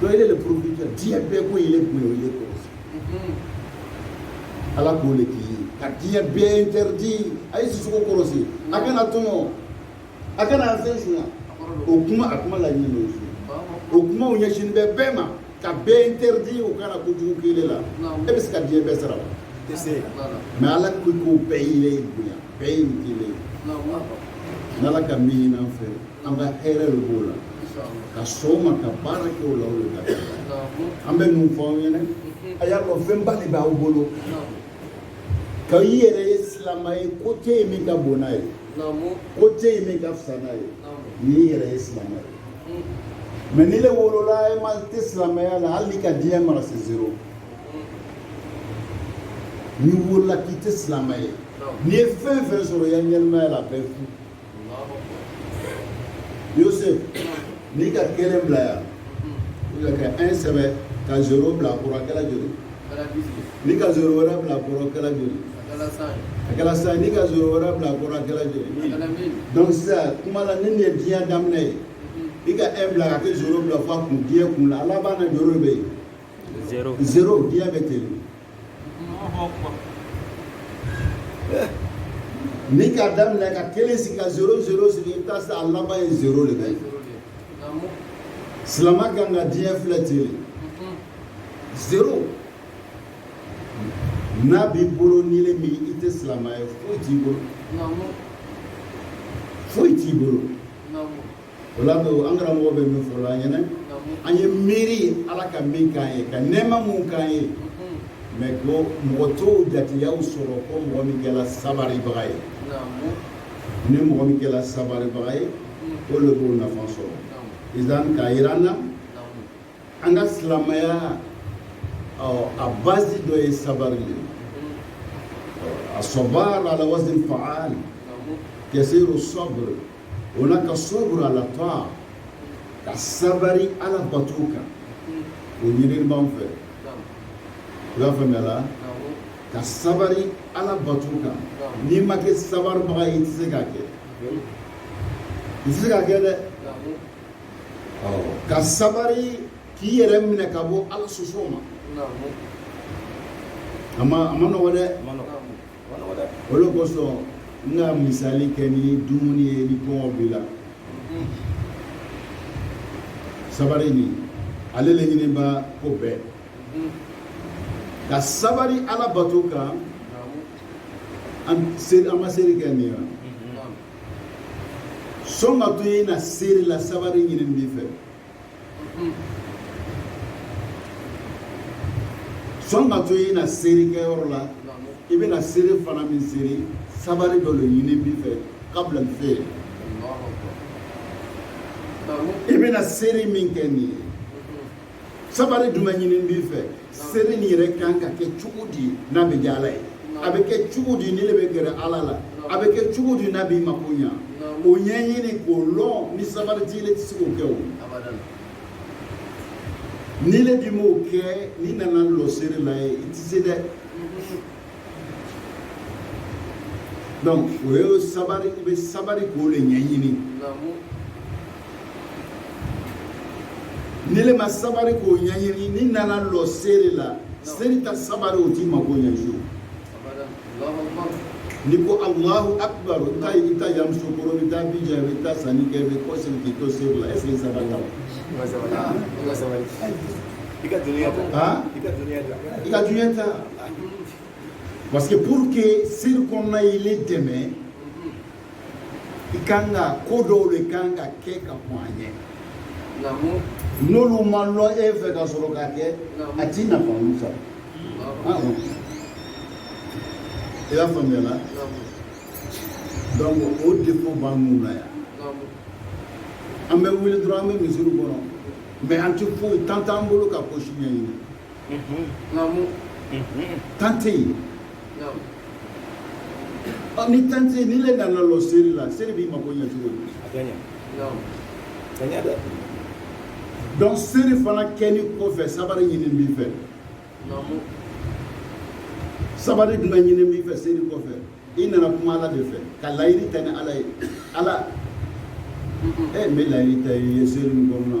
donc ele le protéger diɲɛ bɛɛ ko ele bonya o ye kɔlɔsi ala k'o le k'i ye ka diɲɛ bɛɛ interdit a ye Sisoko kɔlɔsi a kana a tɔɲɔ a kana fɛn sunya o kuma a kuma laɲini n'o ye o kumaw ɲɛsin bɛ bɛɛ ma ka bɛɛ interdit o kana kojugu k'ele la e bɛ se ka diɲɛ bɛɛ sara wa i tɛ se mais ala ko ko bɛɛ le y'i bonya bɛɛ ye nin k'ile ye n'ala ka min ɲin'an fɛ an ka hɛrɛ de b'o la ka sɔn a ma ka baara kɛ o la o de ka an bɛ mun fɔ aw ɲɛna a y'a dɔn fɛnba de b'aw bolo ka i yɛrɛ ye silamɛ ye ko tɛ yen min ka bon n'a ye ko tɛ yen min ka fisa n'a ye n'i yɛrɛ ye silamɛ ye mais n'ile wolola e ma tɛ silamɛya la hali n'i ka diɲɛ mara c'est zéro n'i wolola k'i tɛ silamɛ ye n'i ye fɛn fɛn sɔrɔ i ya ɲɛnamaya la a bɛɛ fu Yosef n'i ka kelen bila yan ka un sɛbɛn ka zéro bila a kɔrɔ a kɛla joli n'i ka zéro wɛrɛ bila a kɔrɔ a kɛla joli a kɛra cent n'i ka zéro wɛrɛ bila a kɔrɔ a kɛla joli donc sisan kuma la ni nin ye diɲɛ daminɛ ye i ka un bila ka kɛ zéro bila fo a kun diɲɛ kun la a laban na zéro bɛ yen zéro diɲɛ bɛ ten N'i k'a daminɛ ka kelen sigi ka zéro zéro sigi i bɛ taa se a laban yen zéro de bɛ yen, silamɛ ka kan ka diɲɛ filɛ ten de, zéro n'a b'i bolo n'ile min i tɛ silamɛ ye foyi t'i bolo, foyi t'i bolo O la don an karamɔgɔ bɛ min fɔla an ɲɛna an ye miiri ye ala ka min k'an ye ka nɛma min k'an ye mais ko mɔgɔ t'o jatigiya sɔrɔ fo mɔgɔ min kɛra sabaribaga ye ni mɔgɔ min kɛra sabaribaga ye o le b'o nafa sɔrɔ izan k'a jira an na an ka silamɛya a base dɔ ye sabari le ye a sɔba la la waati faga kɛse o sɔbiri o la ka sɔbru ala tɔa ka sabari ala bato kan o ɲinini b'an fɛ i y'a faamuya la ka sabari ala bato kan n'i ma kɛ sabaribaga ye i tɛ se k'a kɛ i tɛ se k'a kɛ dɛ ka sabari k'i yɛrɛ minɛ ka bɔ ala soso ma a ma a ma nɔgɔ dɛ o le kosɔn n ka misali kɛ ni dumuni ye ni kɔngɔ b'i la sabari nin ale le ɲininba ko bɛɛ ka sabari ala bato kan an bɛ seri kɛ nin yan sani ka to i na seri la sabari ɲinin b'i fɛ sani ka to i na seri kɛyɔrɔ la i bɛna seri fana min seri sabari dɔ le ɲinin b'i fɛ ka bila ɲɛfɛ i bɛna seri min kɛ nin ye sabari jumɛn ɲinin b'i fɛ seri nin yɛrɛ kan ka kɛ cogo di n'a bɛ diya ala ye a bɛ kɛ cogo di n'i le bɛ gɛrɛ ala la a bɛ kɛ cogo di n'a b'i mako ɲa o ɲɛɲini k'o lɔn ni sabari t'i le tɛ se k'o kɛ o n'i le dun m'o kɛ n'i nana lɔ seri la ye i tɛ se dɛ donc o ye sabari i bɛ sabari k'o le ɲɛɲini n'i le ma sabari k'o ɲɛɲini n'i nana lɔ seri la seri ta sabari o t'i mago ɲɛ fiyewu n'i ko alahu akbar i taa i taa Yamusukoro i taa Abijan i taa sanni kɛ i bɛ kɔ seri k'i to seri la est-ce que sabarila i ka dunuya ta i ka dunuya ta i ka dunuya ta parce que pour que seri kɔnɔna y'i le dɛmɛ i kan ka ko dɔw le kan ka kɛ ka kɔn a ɲɛ n'olu ma lɔn e fɛ ka sɔrɔ ka kɛ a ti nafa olu sɔrɔ i y'a faamuya la donc o defaut b'annu la yan an bɛ wuli dɔrɔn an bɛ misiriw kɔnɔ mais an ti foyi temps t'an bolo ka ko si ɲɛɲini temps tɛ yen ni tan tɛ n'ile nana lɔ seri la seri b'i mako ɲɛ cogo di a ka ɲa dɛ donc seri fana kɛli kɔfɛ sabari ɲini b'i fɛ sabari dun bɛ ɲini b'i fɛ seri kɔfɛ i nana kuma ala de fɛ ka layiri ta ni ala ye ala e n bɛ layiri ta i ye seri nin kɔnɔna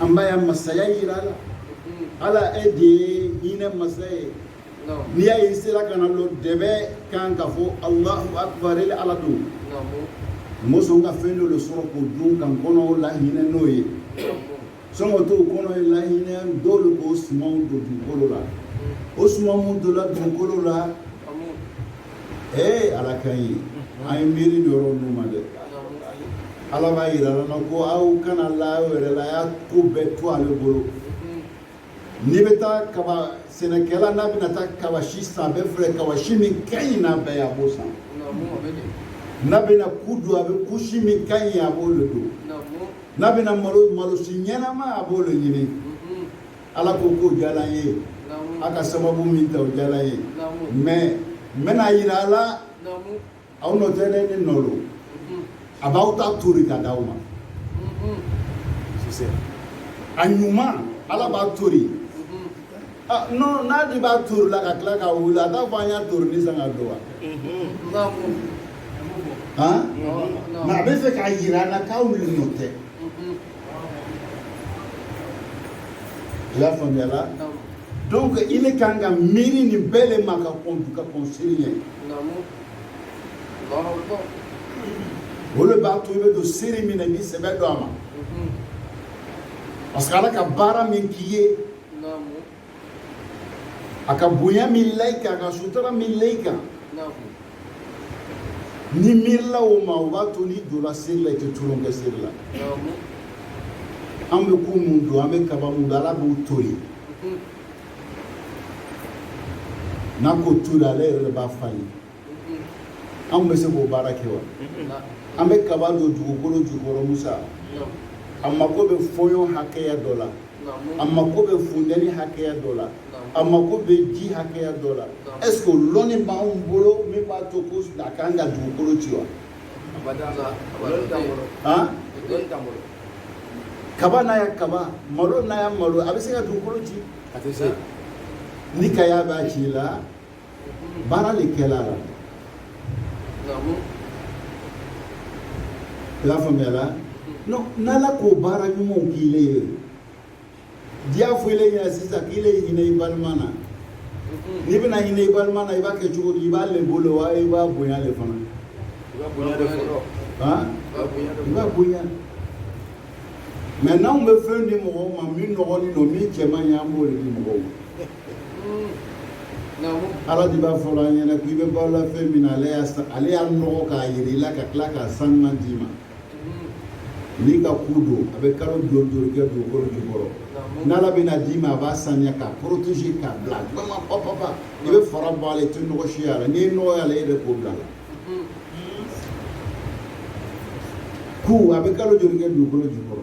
an b'a ya masaya yira la ala e de ye hinɛ masa ye n'i y'a ye i sera ka na lɔ dɛbɛn kan ka fɔ alahu akbar ele ala don musow ka fɛn dɔ de sɔrɔ k'o dun ka kɔnɔ ala hinɛ nɔ ye sɔngɔ t'o kɔnɔ ye lahinɛ dɔw de b'o sumanw don dugukolo la o suman minnu donna dugukolo la ee ala ka ɲi an ye miiri don yɔrɔ ninnu ma dɛ ala b'a yira la na ko aw kana la aw yɛrɛ la a y'a ko bɛɛ to ale bolo n'i bɛ taa kaba sɛnɛkɛla n'a bɛna taa kaba si san a bɛ filɛ kaba si min ka ɲi n'a bɛɛ ye a b'o san n'a bɛna ku don a bɛ ku si min ka ɲi a b'o le don n'a bɛna malo malo si ɲɛnama a b'o de ɲini ala ko k'o diyara an ye a ka sababu min ta o diyara an ye mais n bɛna yira a la aw nɔ tɛ ne le nɔ don a b'aw ta tori ka d'aw ma a ɲuman ala b'a tori Ah, non n'a dun b'a torila ka tila ka wuli a t'a fɔ an y'a torinin san k'a don wa. Han? Nka a bɛ fɛ k'a yira an na k'aw le nɔ tɛ. I y'a faamuya la. donc ile kan ka miiri nin bɛɛ le ma ka kɔn ka kɔn seri ɲɛ. o le b'a to i bɛ don seri min na i b'i sɛbɛ don a ma. parce que ala ka baara min k'i ye. a ka bonya min la i kan a ka sutura min la i kan n'i miirila o ma o b'a to n'i donna seri la i tɛ tulon kɛ seri la an bɛ ku mun don an bɛ kaba mun don ala b'u toli n'a k'o toli ale yɛrɛ de b'a falen anw bɛ se k'o baara kɛ wa an bɛ kaba don dugukolo jukɔrɔ musa a mako bɛ fɔɲɔ hakɛya dɔ la a mako bɛ funteni hakɛya dɔ la a mako bɛ ji hakɛya dɔ la est-ce que o lɔnni b'anw bolo min b'a to ko a kan ka dugukolo ci wa kaba n'a ya kaba malo n'a ya malo a bɛ se ka dugukolo ci ni kaya b'a ci la baara le kɛla la i y'a faamuya la n'ala k'o baara ɲumanw k'i le ye di a fɔ i le ɲɛna sisan k'i le hinɛ i balima na n'i bɛna hinɛ i balima na i b'a kɛ cogo di i b'a lebu le wa i b'a bonya le fana i b'a bonya de fɔlɔ i b'a bonya mais n'anw bɛ fɛn di mɔgɔw ma min nɔgɔlen don min cɛ man ɲi an b'o le di mɔgɔw ma ala de b'a fɔ an ɲɛna k'i bɛ balo la fɛn min na ale y'a ale y'a nɔgɔ k'a yir'i la ka tila k'a sanuman d'i ma n'i ka ku don a bɛ kalo joli kɛ dugukolo jukɔrɔ n'ala bɛna d'i ma a b'a saniya k'a protéger k'a bila dama papapa i bɛ fara bɔ a la i tɛ nɔgɔ y'a la n'i ye nɔgɔ y'a la e de k'o bil'a la ku a bɛ kalo joli kɛ dugukolo jukɔrɔ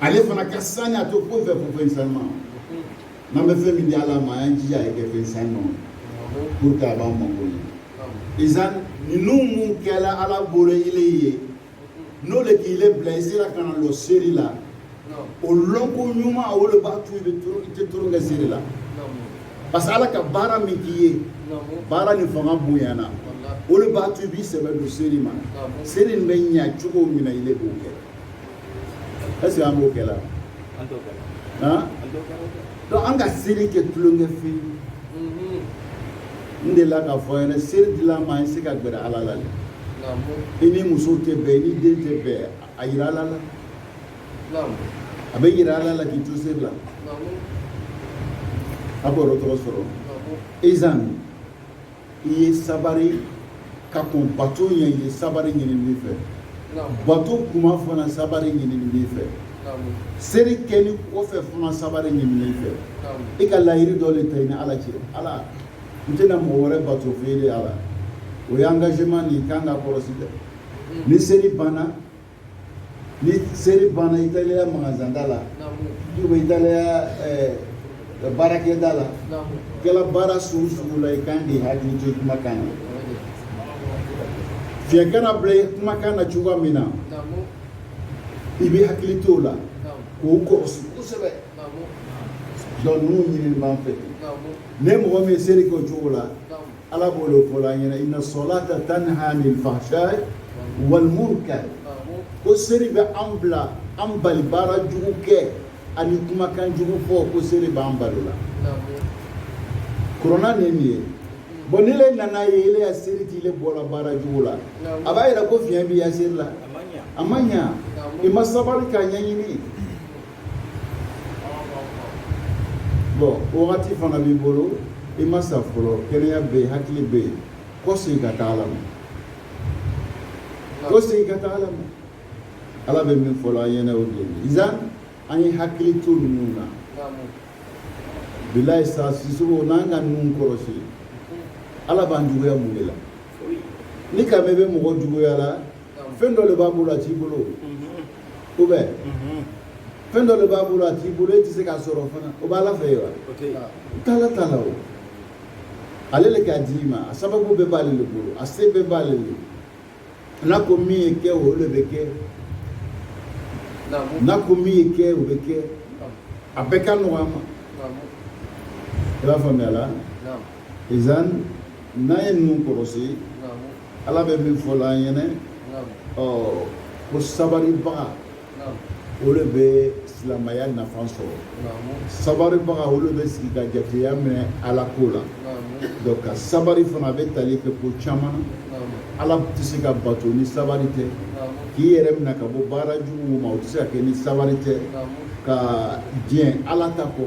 ale fana ka sani a tɛ foyi fɛ fo fɛn sanuma n'an bɛ fɛn min di ala ma an y'an jija a ye kɛ fɛn sanuma pour que a b'an mako ɲɛ izan ninnu min kɛra ala bolo ile ye n'o le k'i le bila i sera ka na lɔ seri la o lɔnko ɲuman o le b'a to i bɛ i tɛ tulon kɛ seri la parce que ala ka baara min k'i ye baara nin fanga bonyana o le b'a to i b'i sɛbɛ don seri ma seri nin bɛ ɲa cogo min na i le b'o kɛ Est-ce que an b'o kɛ la? An t'o kɛ la. Han? An t'o kɛ la. Donc an ka seri kɛ tulonkɛ fɛn ye. Unhun. N delila k'a fɔ ɲɛna seri dil'an ma i se ka gbɛrɛ Ala la de. Naamu. I ni muso tɛ bɛn, i ni den tɛ bɛn, a yira Ala la. Naamu. A bɛ yira Ala la k'i to seri la. Naamu. A b'o yɔrɔ tɔnɔ sɔrɔ. Naamu. Izan i ye sabari ka kɔn bato ɲɛ i ye sabari ɲinini b'i fɛ bato kuma fana sabari ɲinini b'i fɛ seri kɛnin kɔfɛ fana sabari ɲinini b'i fɛ i ka layiiri dɔ le ta i ni ala cɛ ala n tɛna mɔgɔ wɛrɛ bato fo ele ala o ye engagement nin kan ka kɔlɔsi dɛ ni seri banna ni seri banna i taara i ya magazanda la ou bien i ya baarakɛda la kɛra baara sugu sugu la i kan k'i hakili to kumakan na fiɲɛ kana bila i kumakan na cogoya min na i bɛ hakili to o la k'o kɔlɔsi kosɛbɛ donc ninnu ɲinini b'an fɛ ni mɔgɔ min ye seri kɛ o cogo la ala b'o le fɔla an ɲɛna inna salata tanha anil fahsha'i wal munkar ko seri bɛ an bila an bali baara jugu kɛ ani kumakan jugu fɔ ko seri b'an bali o la kurana le nin ye bon ni le nan'a ye ele ya seri t'i le bɔla baara jugu la a b'a yira ko fiɲɛ b'i ya seri la a ma ɲa i ma sabari k'a ɲɛɲini bɔn wagati fana b'i bolo i ma sa fɔlɔ kɛnɛya bɛ yen hakili bɛ yen kɔ segin ka taa ala ma kɔ segin ka taa ala ma ala bɛ min fɔ la an ɲɛna o de ye izan an ye hakili to ninnu na bilayi sa sisogo n'an ka ninnu kɔlɔsi ala b'an juguya mun de la n'i k'a mɛn i bɛ mɔgɔ juguya la fɛn dɔ de b'a bolo a t'i bolo o bɛ fɛn dɔ de b'a bolo a t'i bolo e tɛ se k'a sɔrɔ fana o b'a la fɛ yen wa taala t'a la o ale de k'a d'i ma a sababu bɛɛ b'ale de bolo a se bɛɛ b'ale de n'a ko min ye kɛ o de bɛ kɛ n'a ko min ye kɛ o bɛ kɛ a bɛɛ ka nɔgɔ a ma i b'a faamuya la izan n'an ye ninnu kɔlɔsi ala bɛ min fɔ la an ɲɛna o ko sabaribaga o de bɛ silamaya nafa sɔrɔ sabaribaga o de bɛ sigi ka jateya minɛ ala ko la donc ka sabari fana a bɛ tali kɛ ko caman ala tɛ se ka bato ni sabari tɛ k'i yɛrɛ minɛ ka bɔ baara juguw ma o tɛ se ka kɛ ni sabari tɛ ka diɲɛ ala ta kɔ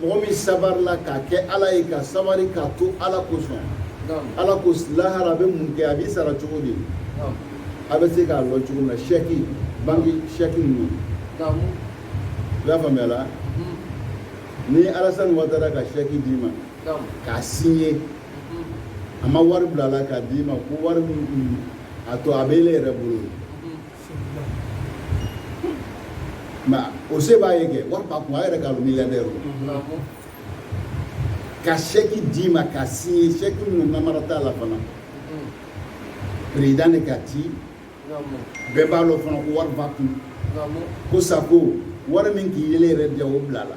mɔgɔ min sabarila k'a kɛ ala ye ka sabari k'a to ala kosɔn ala ko lahara a bɛ mun kɛ a b'i sara cogo di a bɛ se k'a lɔn cogo min na sɛki banki sɛki ninnu i b'a faamuya la ni alasani watara ka sɛki d'i ma k'a siɲe a ma wari bila a la k'a d'i ma ko wari min a to a bɛ e yɛrɛ bolo O se b'a ye kɛ wari b'a kun a yɛrɛ k'a lɔn milliardaire ka sɛki d'i ma k'a siɲe sɛki ninnu namara t'a la fana président de k'a ci bɛɛ b'a dɔn fana ko wari b'a kun ko sago wari min k'ile yɛrɛ diya o bila a la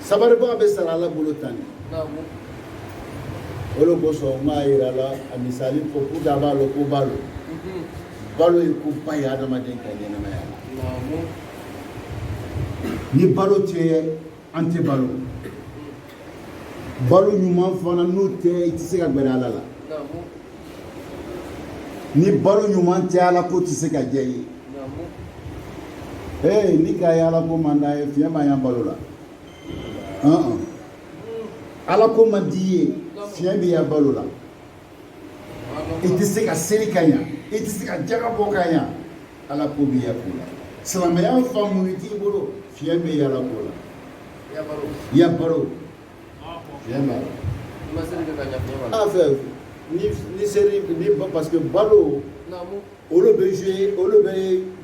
sabaribaga bɛ sara ala bolo tan de o de kosɔn n b'a yira la a misali ko k'u da b'a lo ko balo balo ye koba ye adamaden ka ɲɛnamaya la ni balo tɛ an tɛ balo balo ɲuman fana n'o tɛ i tɛ se ka gbɛrɛ ala la ni balo ɲuman tɛ ala ko tɛ se ka diya i ye ee n'i k'a ye ala ko man d'a ye fiɲɛ b'a ya balo la ala ko man di i ye fiɲɛ b'i ya balo la i tɛ se ka seli ka ɲa i tɛ se ka jaga bɔ ka ɲa ala ko b'i ya ko la silamaya faamuya t'i bolo fiɲɛ b'i ya ala ko la ya balo fiɲɛ b'a la a fɛ ni seli ni parce que balo olu bɛ jouer olu bɛ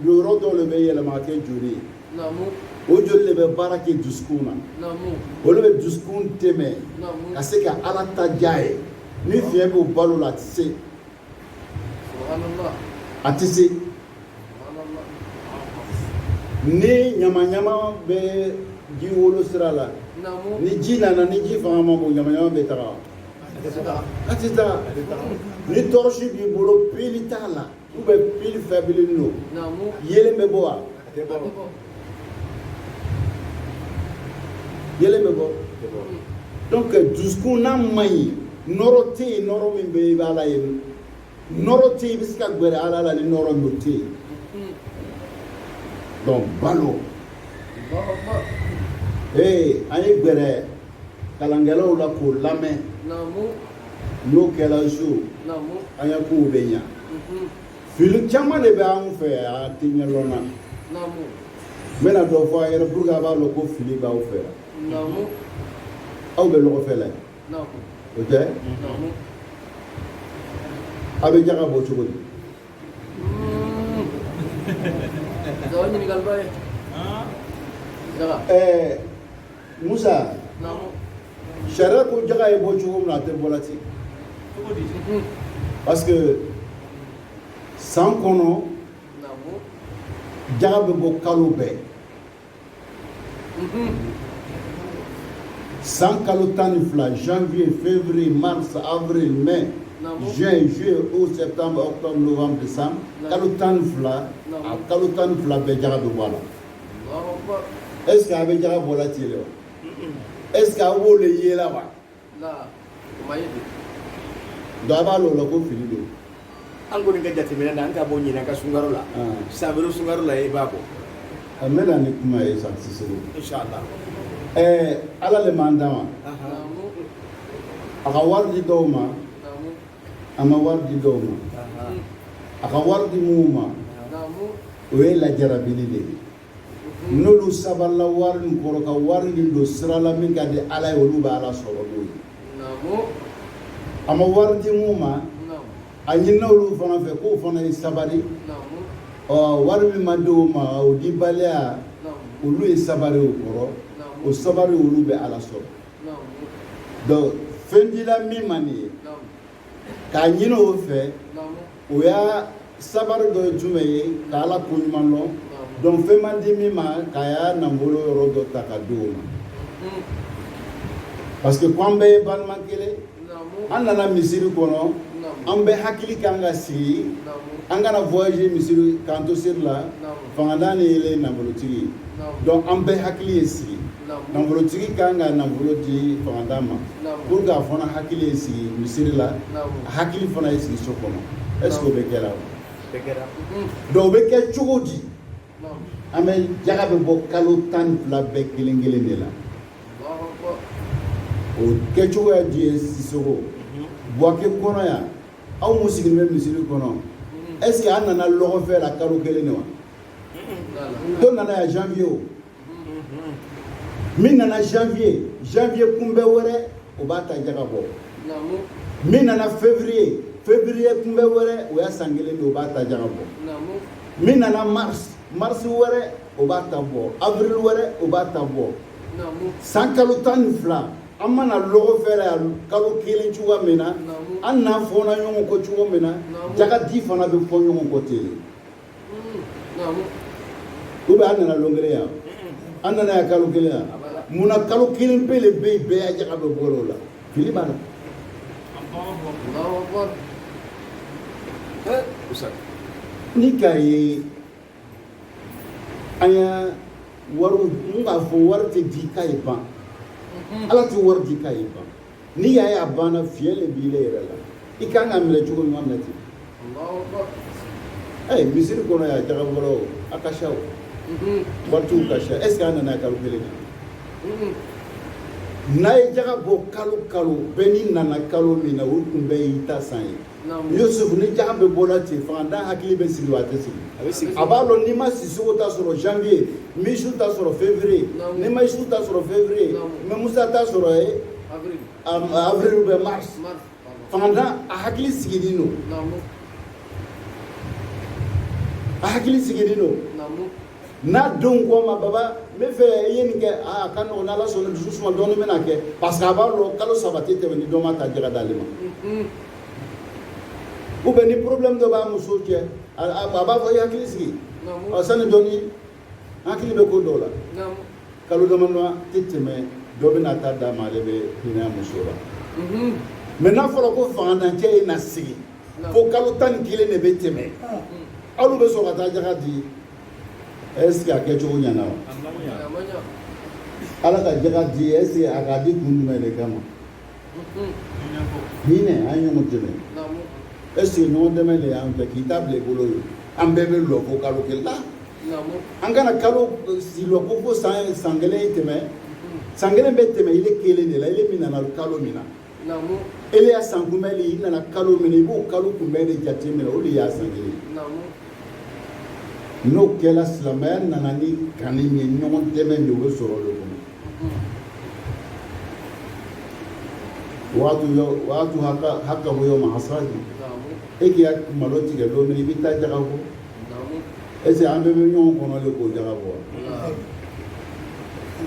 yɔrɔ dɔw de bɛ yɛlɛma ka kɛ joli ye o joli de bɛ baara kɛ dusukun na o le bɛ dusukun dɛmɛ ka se ka ala ta diya ye ni fiɲɛ b'u balo la a tɛ se a tɛ se ni ɲamaɲama bɛ ji wolo sira la ni ji nana ni ji fanga ma bon ɲamaɲama bɛ taga a ti taa ni tɔrɔsi b'i bolo pili t'a la u bɛ pili fɛbili don yeelen bɛ bɔ wa yeelen bɛ bɔ donc dusukun n'a man ɲi nɔrɔ tɛ yen nɔrɔ min bɛ i b'a la yen nɔrɔ tɛ yen i bɛ se ka gɛrɛ ala la ni nɔrɔ min tɛ yen donc balo ee an ye gɛrɛ kalankɛlaw la k'u lamɛn n'o kɛra so an ka kow bɛ ɲa mhm. fili caman de bɛ anw fɛ a tɛ ɲɛdɔn na n bɛna dɔ fɔ a yɛrɛ pour que a b'a dɔn ko fili b'aw fɛ yan aw bɛ ɲɔgɔn fɛ la yan o tɛ a bɛ jaga bɔ cogo di. Mm. Jaga ɲininkaliba ye. Jaga. Ɛɛ. Musa sariya ko jaga ye bɔ cogo min na a tɛ bɔla ten parce que san kɔnɔ jaga bɛ bɔ kalo bɛɛ san kalo tan ni fila janvier février mars avril mai juin juillet août septembre octobre novembre décembre kalo tan ni fila a kalo tan ni fila bɛɛ jaga bɛ bɔ a la est ce que a bɛ jaka bɔla ten le wa est ce que aw b'o de ye la wa donc a b'a lɔn o la ko fili don an kɔni ka jateminɛ na an ka bɔ ɲinan ka sunkaro la san wɛrɛ sunkaro la i b'a bɔ a n bɛna ni kuma ye san sisoro inshallah ɛɛ ala le m'an dan wa a ka wari di dɔw ma A ma wari di dɔw ma a ka wari di minnu ma o ye lajarabi de ye n'olu sabalila wari kɔrɔ ka wari nin don sira la min ka di ala ye olu bɛ ala sɔrɔ n'o ye a ma wari di minnu ma a ɲinina olu fana fɛ k'u fana ye sabali ɔ wari min ma di o ma o di baliya olu ye sabali o kɔrɔ o sabali olu bɛ ala sɔrɔ donc fɛn dira min ma nin ye k'a ɲini o fɛ o y'a sabari dɔ ye jumɛn ye ka ala ko ɲuman dɔn donc fɛn ma di min ma k'a ya nafolo yɔrɔ dɔ ta ka di o ma parce que ko an bɛɛ ye balima kelen an nana misiri kɔnɔ an bɛɛ hakili kan ka sigi an kana voyager misiri k'an to seri la fangantan ni ye nafolotigi ye donc an bɛɛ hakili ye sigi nafolotigi ka kan ka nafolo di fangantan ma pour que a fana hakili ye sigi misiri la a hakili fana ye sigi so kɔnɔ est ce que o bɛ kɛ la donc o bɛ kɛ cogo di an bɛɛ jaga bɛ bɔ kalo tan ni fila bɛɛ kelen kelen de la o kɛcogoya di ye sisoko buwake kɔnɔ yan aw minnu sigilen bɛ misiri kɔnɔ est ce que an nana lɔgɔfɛ la kalo kelen de wa dɔ nana yan janvier o min nana janvier janvier kunbɛn wɛrɛ o b'a ta jaga bɔ min nana février février kunbɛn wɛrɛ o y'a san kelen de o b'a ta jaga bɔ min nana mars mars wɛrɛ o b'a ta bɔ avril wɛrɛ o b'a ta bɔ san kalo tan ni fila an ma na lɔgɔfɛ la yan kalo kelen cogoya min na an na fɔna ɲɔgɔn kɔ cogo min na jagadi fana bɛ fɔ ɲɔgɔn kɔ ten u bɛ an nana lon kelen yan an nana yan kalo kelen yan munna kalo kelen pe de bɛ yen bɛɛ ya jaga bɛ bɔ o la fili b'a la ni ka ye an y'a wari n k'a fɔ wari tɛ di k'a ye ban mhm. ala tɛ wari di k'a ye ban n'i y'a ye a banna fiɲɛ de b'ile yɛrɛ la i kan k'a minɛ cogo ɲuman minɛ ten ayi misiri kɔnɔ yan jagabɔla o a ka ca o mhm. waritigiw ka ca est ce que an nana kalo kelen na mhm. n'a ye jaga bɔ kalo kalo bɛɛ n'i nana kalo min na o kunbɛn y'i ta san ye. Yusufu ni jaga bɛ bɔra ten fantan hakili bɛ sigi wa a tɛ sigi a b'a dɔn n'i ma sisoko ta sɔrɔ janvier n bɛ yusufu ta sɔrɔ février n'i ma yusufu ta sɔrɔ février n bɛ musa ta sɔrɔ en avril ou bien mars fangantan a hakili sigilen don a hakili sigilen don n'a denw k'a ma baba n bɛ fɛ i ye nin kɛ aa ka nɔgɔn n'ala sɔnna dusu suma dɔɔni bɛna kɛ parce que a b'a dɔn kalo saba tɛ tɛmɛ ni dɔ m'a ta jaga d'ale ma ou bien ni problème dɔ b'a muso cɛ a b'a fɔ i hakili sigi ɔ sani dɔɔni n hakili bɛ ko dɔ la kalo damadama tɛ tɛmɛ dɔ bɛn'a ta d'an ma ale bɛ hinɛ muso la mais n'a fɔra ko fangantancɛ ye na sigi fo kalo tan ni kelen de bɛ tɛmɛ aw bɛ sɔrɔ ka taa jaga di est-ce que a kɛcogo ɲɛna wa ala ka jaga di est-ce que a k'a di kun jumɛn de kama hinɛ an ye ɲɔgɔn dɛmɛ est-ce que ɲɔgɔn dɛmɛ de y'an fɛ k'i ta bila i bolo ye an bɛɛ bɛ lɔ fo kalo kelen la an kana kalo si lɔ ko fo san san kelen tɛmɛ san kelen bɛ tɛmɛ ile kelen de la ile min nana kalo min na ele ya san kunbɛn de i nana kalo min i b'o kalo kunbɛn de jate minɛ o de y'a san kelen n'o kɛra silamɛya nana ni kanni ye ɲɔgɔn dɛmɛ de bɛ sɔrɔ o de kɔnɔ waatu yɔ waatu haka hakahu yawma hasadi e k'i ka malo tigɛ don min i b'i ta jaga bɔ est ce que an bɛɛ bɛ ɲɔgɔn kɔnɔ de k'o jaga bɔ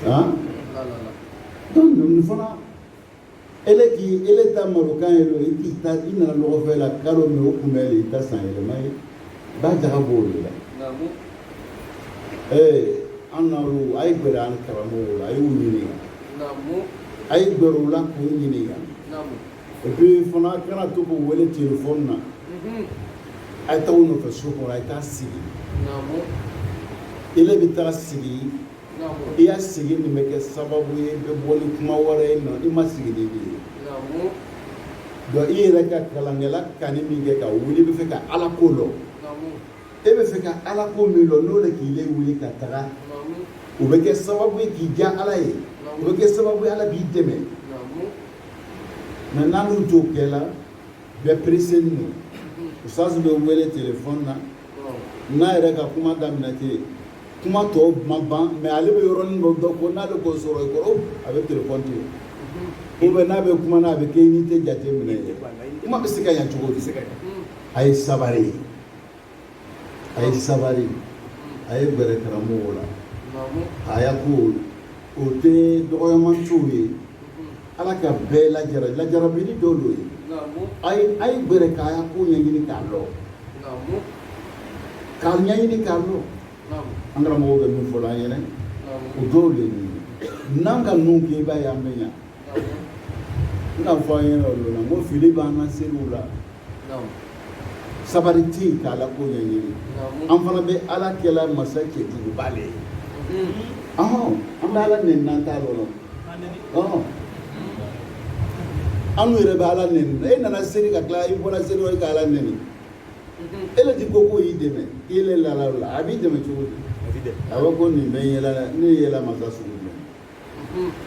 wa han donc nin fana ele k'i ele ta malo kan ye don i k'i ta i nana lɔgɔfɛ la kalo min o kunbɛn de i ta san yɛlɛma ye i b'a jaga b'o de la ee an na olu a ye gɛrɛ an karamɔgɔw la a y'u ɲininka a ye gɛrɛ u la k'u ɲininka et puis fana kana to k'u wele telefɔni na a ye taa u nɔfɛ so kɔnɔ a ye taa sigi ele bɛ taa sigi i ya sigi nin bɛ kɛ sababu ye bɛ bɔ ni kuma wɛrɛ ye nɔ i ma sigi de ye dɔn i yɛrɛ ka kalankɛla kanni min kɛ ka wuli bɛ fɛ ka ala ko dɔn e bɛ fɛ ka ala ko min dɔn n'o de k'i le wuli ka taga o bɛ kɛ sababu ye k'i diya ala ye o bɛ kɛ sababu ye ala b'i dɛmɛ mais n'an t'o kɛ la bɛɛ pereselen don usitazi bɛ wele telefɔni na n'a yɛrɛ ka kuma daminɛ tɛ yen kuma tɔw ma ban mais ale bɛ yɔrɔnin dɔ dɔn ko n'ale k'o sɔrɔ i kɔrɔ a bɛ telefɔni to yen ko bɛ n'a bɛ kuma na a bɛ kɛ i ni tɛ jate minɛ ye kuma bɛ se ka ɲa cogo di a ye sabari ye a ye sabari a ye gɛrɛ karamɔgɔw la a y'a ko o tɛ dɔgɔyamacogo ye ala ka bɛɛ lajara lajarabili dɔ dɔn ye a ye a ye gɛrɛ k'a y'a ko ɲɛɲini k'a lɔ k'a ɲɛɲini k'a lɔ an karamɔgɔw bɛ min fɔ la an ye o dɔrɔn de ye n'an ka ninnu kɛ i b'a ye an bɛ ɲa n bɛna fɔ an ye yɔrɔ dɔ la n ko fili b'an ka seliw la sabari tɛ yen k'ala ko ɲɛɲini an fana bɛ ala kɛla masa cɛjuguba de ye ɔhɔn an bɛ ala nɛni n'an t'a dɔn ɔhɔn an yɛrɛ bɛ ala nɛni e nana seli ka tila i bɔra seli o e ka ala nɛni e le ti ko k'o y'i dɛmɛ i le lala o la a b'i dɛmɛ cogo di a bɛ ko nin bɛ n yela ne yela masa sugu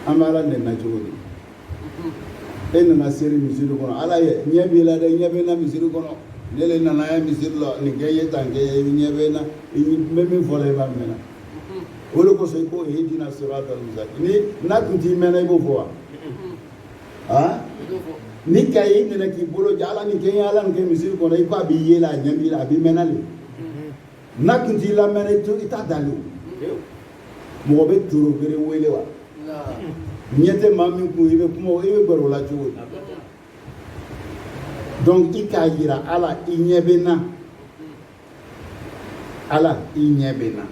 an bɛ ala dɛmɛ cogo di e nana seri misiri kɔnɔ ala ye ɲɛ b'i la dɛ ɲɛ bɛ na misiri kɔnɔ ne le nana ye misiri la nin kɛ n ye tan kɛ n ye ɲɛ bɛ na n bɛ min fɔ la i b'a mɛn na o de kosɔn i ko ihdina siratal mustaqim n'a tun t'i mɛnna i b'o fɔ wa aa ni ka ye i nana k'i bolo jɛ ala nin kɛ n ye ala nin kɛ misiri kɔnɔ i ko a b'i ye la a ɲɛ b'i la a b'i mɛnna de N'a tun t'i lamɛn i to i t'a deli mɔgɔ bɛ tulogeren wele wa ɲɛ tɛ maa min kun i bɛ kuma i bɛ gɛrɛ a la cogo ye donc i k'a yira ala i ɲɛ bɛ na ala i ɲɛ bɛ na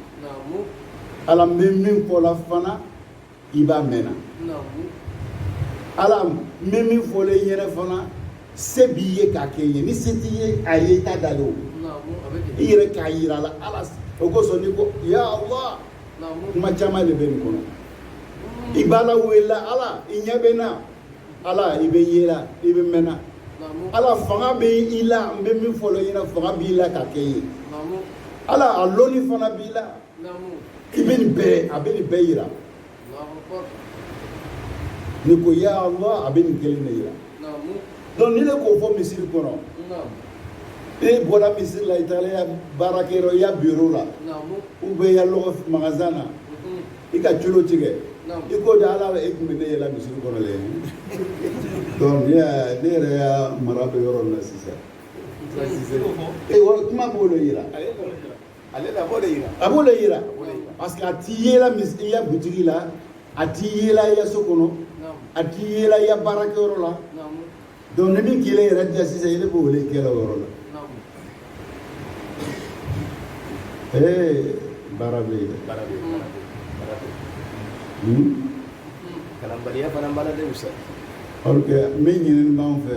ala n bɛ min fɔ la fana i b'a mɛn na ala n bɛ min fɔ la i yɛrɛ fana se b'i ye k'a kɛ n ye ni se tɛ a ye i t'a deli o i yɛrɛ k'a yira a la ala o kosɔn n'i ko ya allah kuma caman de bɛ nin kɔnɔ i b'ala wele ala i ɲɛ bɛ na ala i bɛ n ye la i bɛ n mɛn na ala fanga bɛ i la n bɛ min fɔ la i ɲɛna fanga b'i la k'a kɛ n ye ala a lɔnni fana b'i la i bɛ nin bɛɛ a bɛ nin bɛɛ yira n'i ko ya Allah a bɛ nin kelen de yira donc ni ne k'o fɔ misiri kɔnɔ e bɔra misiri la i taara i ya baarakɛyɔrɔ i ya biro la ou bien i ya lɔgɔ magasin na i ka culo tigɛ i ko de ala e tun bɛ ne ye la misiri kɔnɔ le donc ne ya ne yɛrɛ ya mara bɛ yɔrɔ min na sisan e kuma b'o de yira a b'o de yira a b'o de yira parce que a t'i yela i ya butigi la a t'i yela i ya so kɔnɔ a t'i yela i ya baarakɛyɔrɔ la donc ni min kelen yɛrɛ diya sisan i de b'o de kɛ la o yɔrɔ la ee baara bɛ yen baara bɛ yen baara bɛ yen kalanbaliya fana baara de fisa ɔrike min ɲinini b'an fɛ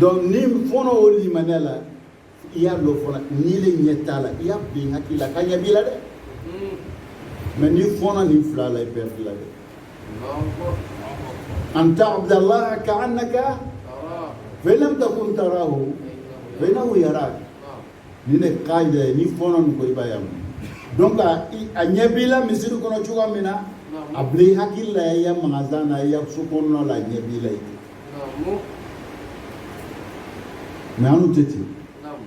donc n'i fɔnna o limaniya la i y'a dɔn fana n'i le ɲɛ t'a la i y'a bila i hakili la k'a ɲɛ b'i la dɛ mais n'i fɔnna nin fila la i bɛ fili la dɛ an ta'budu allaha ka'annaka fa in lam takun tarahu fa innahu yaraka nin de ka ɲi dɛ n'i fɔnna nin kɔ i b'a ye a mɛn donc a i- a ɲɛ b'i la misiri kɔnɔ cogoya min na a bila i hakili la i ya magasin na i ya so kɔnɔna la a ɲɛ b'i la i tɛ Namu. mais an tɛ ten Namu.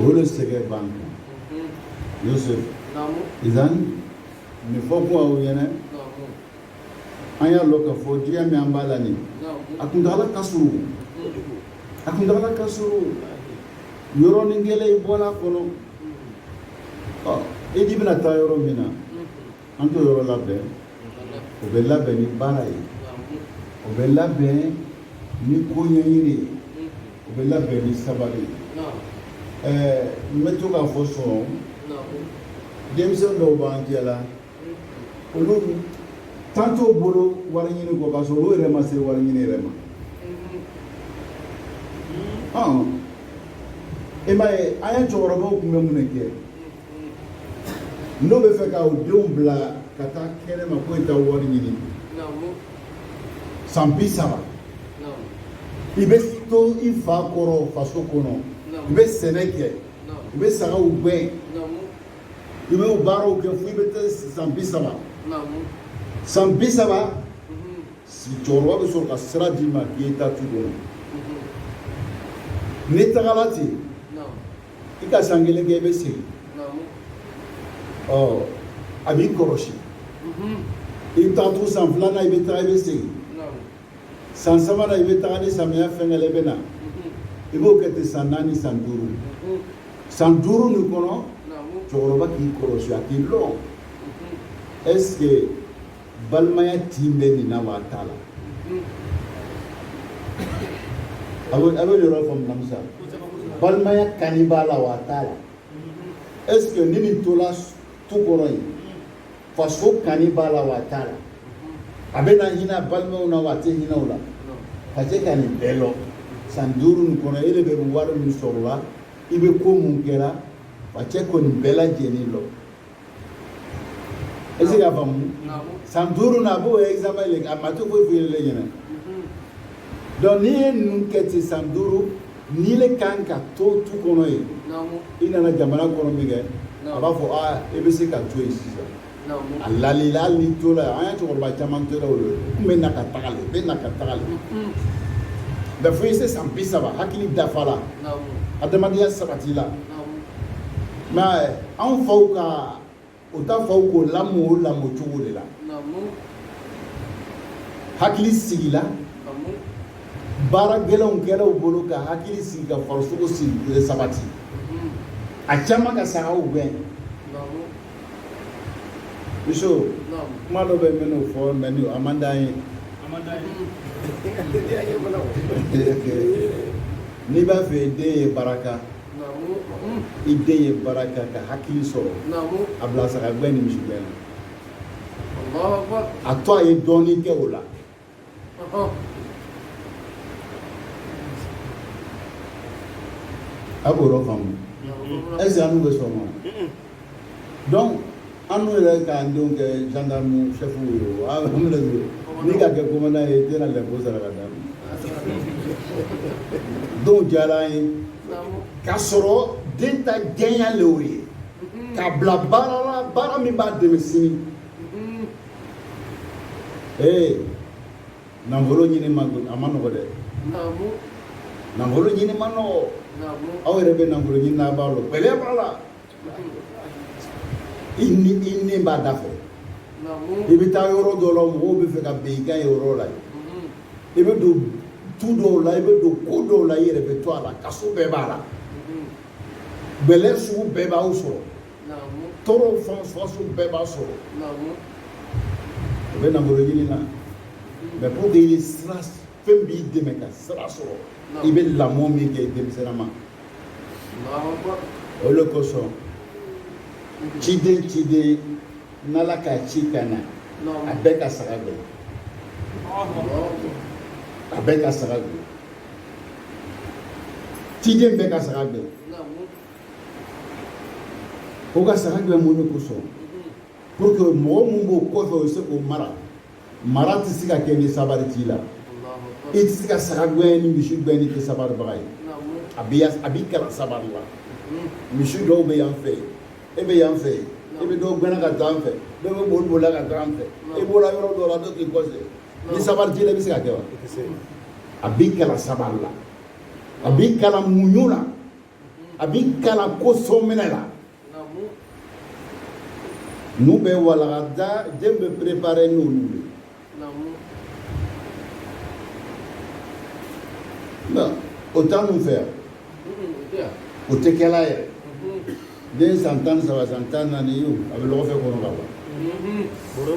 o de sɛgɛn b'an kan Mhm. yosef Namu. ihsan min fɔ kuma o ɲɛna Namu. an y'a lɔn ka fɔ diɲɛ min an b'a la nin a kuntagala ka surun a kuntagala ka surun yɔrɔnin kelen i bɔra a kɔnɔ ɔ e de bɛna taa yɔrɔ min na an t'o yɔrɔ labɛn o bɛ labɛn ni baara ye o bɛ labɛn ni ko ɲɛɲini ye o bɛ labɛn ni sabali ye ɛɛ n bɛ to k'a fɔ sɔn denmisɛn dɔw b'an jɛ la olu tan t'o bolo wari ɲini kɔ k'a sɔrɔ olu yɛrɛ ma se wari ɲini yɛrɛ ma ɔn e m'a ye an ye cɛkɔrɔbaw tun bɛ mun de kɛ n'o bɛ fɛ ka u denw bila ka taa kɛnɛma ko i taa wari ɲini san bi saba i bɛ to i fa kɔrɔ faso kɔnɔ i bɛ sɛnɛ kɛ i bɛ sagaw gɛn i bɛ o baaraw kɛ fo i bɛ taa san bi saba san bi saba cɛkɔrɔba bɛ sɔrɔ ka sira d'i ma k'i ye taa tu kɔnɔ n'i tagala ten i ka san kelen kɛ i bɛ segin ɔ a b'i kɔlɔsi i bɛ taa to san filanan i bɛ taa i bɛ segin san sabanan i bɛ taga ni samiya fɛnkɛla i bɛ na i b'o kɛ ten san naani san duuru san duuru nin kɔnɔ cɛkɔrɔba k'i kɔlɔsi a k'i lɔn est ce que balimaya tin bɛ nin na wa a t'a la a bɛ a bɛ yɔrɔ faamu namisa balimaya kani b'a la wa a t'a la est ce que ni nin tola tu kɔrɔ yen faso kani b'a la wa a t'a la a bɛ na hinɛ a balimaw na wa a tɛ hinɛ u la facɛ ka nin bɛɛ lɔn san duuru nin kɔnɔ e de bɛ wari min sɔrɔ la i bɛ ko mun kɛ a la facɛ ka nin bɛɛ lajɛlen lɔn est ce que y'a faamu san duuru na a b'o examen le a ma to foyi foyi le ɲɛna donc n'i ye ninnu kɛ ten san duuru n'i le kan ka to tu kɔnɔ yen i nana jamana kɔnɔ minkɛ a b'a fɔ aa i bɛ se ka to yen sisan a lal'i la hali n'i tola yen an ye cɛkɔrɔba caman tora o la n bɛ na ka taga le bɛ na ka taga le mɛ fo i se san bi saba hakili dafa la adamadenya sabatila mɛ anw faw ka o ta faw k'o lamɔ o lamɔ cogo de la hakili sigila baara gɛlɛnw kɛra u bolo ka hakili sigi ka farisogo sigi sabati a caman ka sagaw gɛn muso kuma dɔ bɛ minnu fɔ mɛnni man d'an ye n'i b'a fɛ den ye baraka i den ye baara kɛ ka hakili sɔrɔ a bila saga gɛn ni misi gɛn na a to a ye dɔɔnin kɛ o la a b'o yɔrɔ faamu ɛseke annu bɛ sɔn wa dɔnku annu yɛrɛ k'an denw kɛ zandamu sɛfu ye o a minɛ n'i ka kɛ komandan ye tɛna lɛbo sara ka d'a dɔw diyara an ye k'a sɔrɔ den ta jɛnya le o ye k'a bila baara la baara min b'a dɛmɛ sini ee nafolo ɲini ma a man nɔgɔ dɛ nafolo ɲini man nɔgɔ aw yɛrɛ bɛ nafolo ɲini na a b'a lɔn gɛlɛya b'a la i ni i ni b'a da fɛ i bɛ taa yɔrɔ dɔ la mɔgɔw bɛ fɛ ka bin i kan yɔrɔ la i bɛ don tu dɔw la i bɛ don ko dɔw la i yɛrɛ bɛ to a la kaso bɛɛ b'a la gɛlɛya sugu bɛɛ b'aw sɔrɔ tɔɔrɔw fan sugu bɛɛ b'a sɔrɔ o bɛ nafolo ɲini na mɛ pour que i ni sira fɛn b'i dɛmɛ ka sabari sɔrɔ i bɛ lamɔ min kɛ i denmisɛnnin ma o de kosɔn ciden ciden n'ala k'a ci ka na a bɛɛ ka saga gɛn a bɛɛ ka saga gɛn ciden bɛɛ ka saga gɛn o ka saga gɛn mun de kosɔn pour que mɔgɔ min b'o kɔfɛ o bɛ se k'o mara mara tɛ se ka kɛ ni sabari t'i la i tɛ se ka saga gɛn ni misi gɛn n'i tɛ sabaribaga ye a bɛ a b'i kalan sabari la misi dɔw bɛ yan fɛ e bɛ yan fɛ e bɛ dɔw gɛn na ka taa yan fɛ dɔw bɛ boli bolila ka taa yan fɛ e bɔra yɔrɔ dɔw la dɔw k'i kɔsɛ ni sabari t'i la i bɛ se k'a kɛ wa a b'i kalan sabari la a b'i kalan muɲu na a b'i kalan ko sɔminɛ la mun bɛ walagada den bɛ préparer n'olu ye non o t'annu fɛ yan o tɛ kɛla yɛrɛ den san tan ni saba san tan naani ye o a bɛ lɔgɔfɛ kɔnɔ ka ban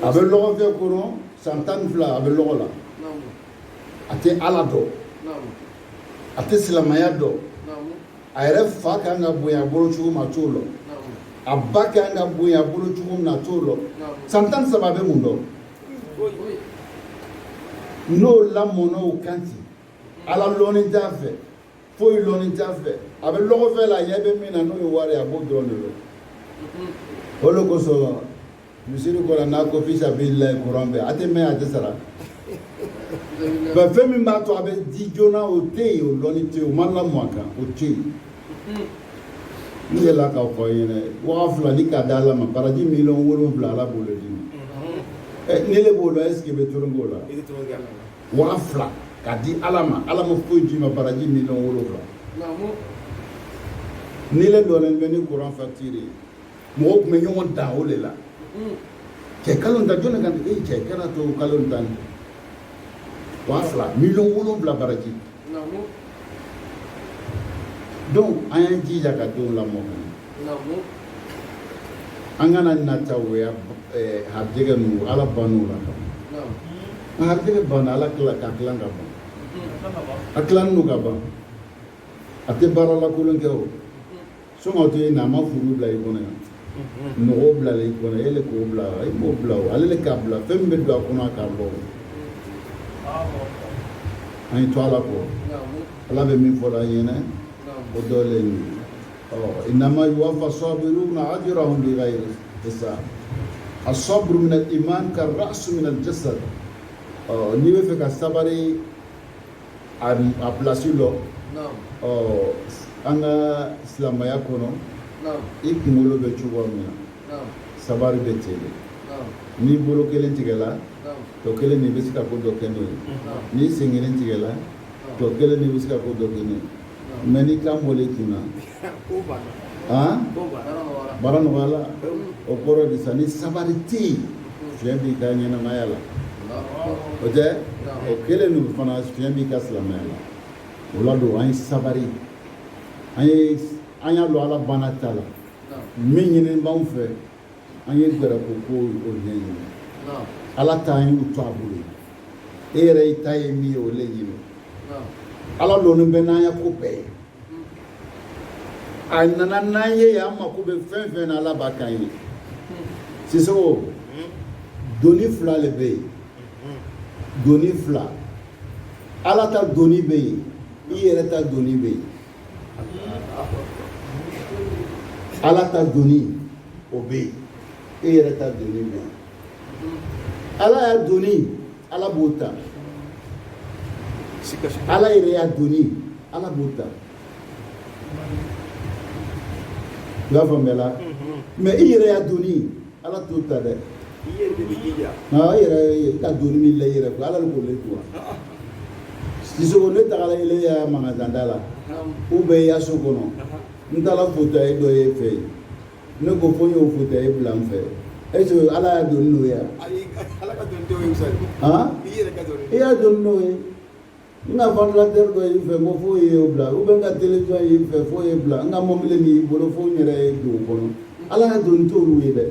a bɛ lɔgɔfɛ kɔnɔ san tan ni fila a bɛ lɔgɔ la a tɛ ala dɔn a tɛ silamɛya dɔn a yɛrɛ fa ka kan ka bonya a bolo cogo min a t'o lɔn a ba ka kan ka bonya a bolo cogo min na a t'o lɔn san tan ni saba a bɛ mun dɔn n'o lamɔna o kan ten ala lɔnni t'a fɛ foyi lɔnni t'a fɛ a bɛ lɔgɔfɛ la a ɲɛ bɛ min na n'o ye wari ye a b'o dɔrɔn de lɔn o de kosɔn misiri kɔnɔ n'a ko fisa b'i la kuran bɛɛ a tɛ mɛn a tɛ sara ba fɛn min b'a to a bɛ di joona o tɛ yen o lɔnni tɛ yen o ma lamɔ a kan o tɛ yen n delila k'a fɔ n ɲɛna waa fila ni k'a d'ala ma baraji miliyɔn wolonwula ala b'o le d'i ma ni ne b'o la ɛseke bɛ toro k'o la waa fila k'a di ala ma ala ma foyi d'i ma baraji miliyɔn wolonwula ni ne donnen bɛ ni kuran fatiri ye mɔgɔw tun bɛ ɲɔgɔn dan o de la cɛ kalo tan jɔn kan e cɛ kɛra to kalo tan ni waa fila miliyɔn wolonwula baraji donc an y'an jija ka denw lamɔ ka ɲɛ an kana nata o ya harijɛgɛ ninnu ala bann'u la ka harijɛgɛ banna ala tila ka tilan ka ban a tilannen don ka ban a tɛ baara lakolon kɛ o soma to yen na a ma furu bila i kɔnɔ yan mɔgɔw bilala i kɔnɔ e le k'o bila i m'o bila o ale le k'a bila fɛn min bɛ don a kɔnɔ a k'a bɔ an ye to ala kɔ ala bɛ min fɔla an ye dɛ o dɔ le ye ɔ inama yuwafa sɔbiruna ajurahum bi ghayri hisab asabru min al iman ka rasu min al jasad ɔ n'i bɛ fɛ ka sabari a a place lɔn naam ɔ an ka silamaya kɔnɔ naam i kunkolo bɛ cogo min na naam sabari bɛ ten de naam n'i bolo kelen tigɛla naam tɔ kelen de bɛ se ka ko dɔ kɛ n'o ye naam n'i sen kelen tigɛla tɔ kelen de bɛ se ka ko dɔ kɛ n'o ye mɛ n'i kan bɔlen kun na baara nɔgɔyala o kɔrɔ de sa ni sabari tɛ yen fiɲɛ b'i ka ɲɛnamaya la o tɛ o kelen ninnu fana fiɲɛ b'i ka silamɛya la o la don an ye sabari an ye an y'a don ala banna ta la min ɲininen b'anw fɛ an ye gɛrɛ ko ko o le ɲini ala ta an y'u to a bolo e yɛrɛ i ta ye min ye o le ɲini ala lɔnin bɛ n'an ya ko bɛɛ ye a nana n'an ye yan an mako bɛ fɛn fɛn na ala b'a k'an ye sisewo doni fila le bɛ yen doni fila ala ta doni bɛ yen i yɛrɛ ta doni bɛ yen ala ta doni o bɛ yen e yɛrɛ ta doni bɛ yen ala ya doni ala b'o ta ala yɛrɛ ya doni ala b'o ta i y'a faamuyala mɛ i yɛrɛ ya doni ala t'o ta dɛ i yɛrɛ de bɛ jija i yɛrɛ i ka doni min la i yɛrɛ ala de b'o le quoi sisan ne tagala ile ya magasin da la ou bien i ya so kɔnɔ n taara fauteuil dɔ ye i fɛ yen ne ko fo n y'o fauteuil bila n fɛ est ce que ala ya doni n'o ye wa ala ka doni t'o ye sa i yɛrɛ ka doni i ya doni n'o ye N ka ventilateur dɔ y'i fɛ ko f'o ye o bila ou bien n ka télévision y'i fɛ f'o ye bila n ka mɔbili min y'i bolo fo n yɛrɛ ye don o kɔnɔ Ala ka doni t'olu ye dɛ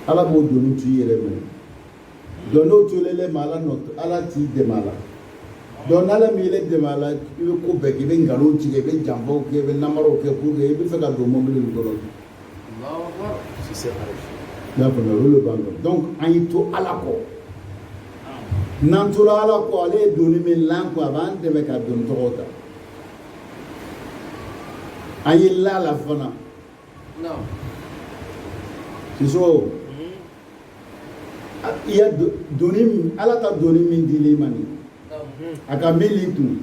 Ala b'o doni t'i yɛrɛ minɛ donc n'o tolelen ma Ala nɔ Ala t'i dɛmɛ a la donc n'Ala m'i yɛrɛ dɛmɛ a la i bɛ ko bɛɛ kɛ i bɛ nkalon tigɛ i bɛ janfaw kɛ i bɛ namaraw kɛ pour que i bɛ fɛ ka don mɔbili min kɔnɔ N'a faamuya olu b'an dɔn donc an y'i to Ala kɔ n'an tora Ala kɔ ale ye doni min la an kun a b'an dɛmɛ ka doni tɔgɔw ta an ye la la fana sisan i ya doni Ala ka doni min dilen i ma ni a ka gbili tun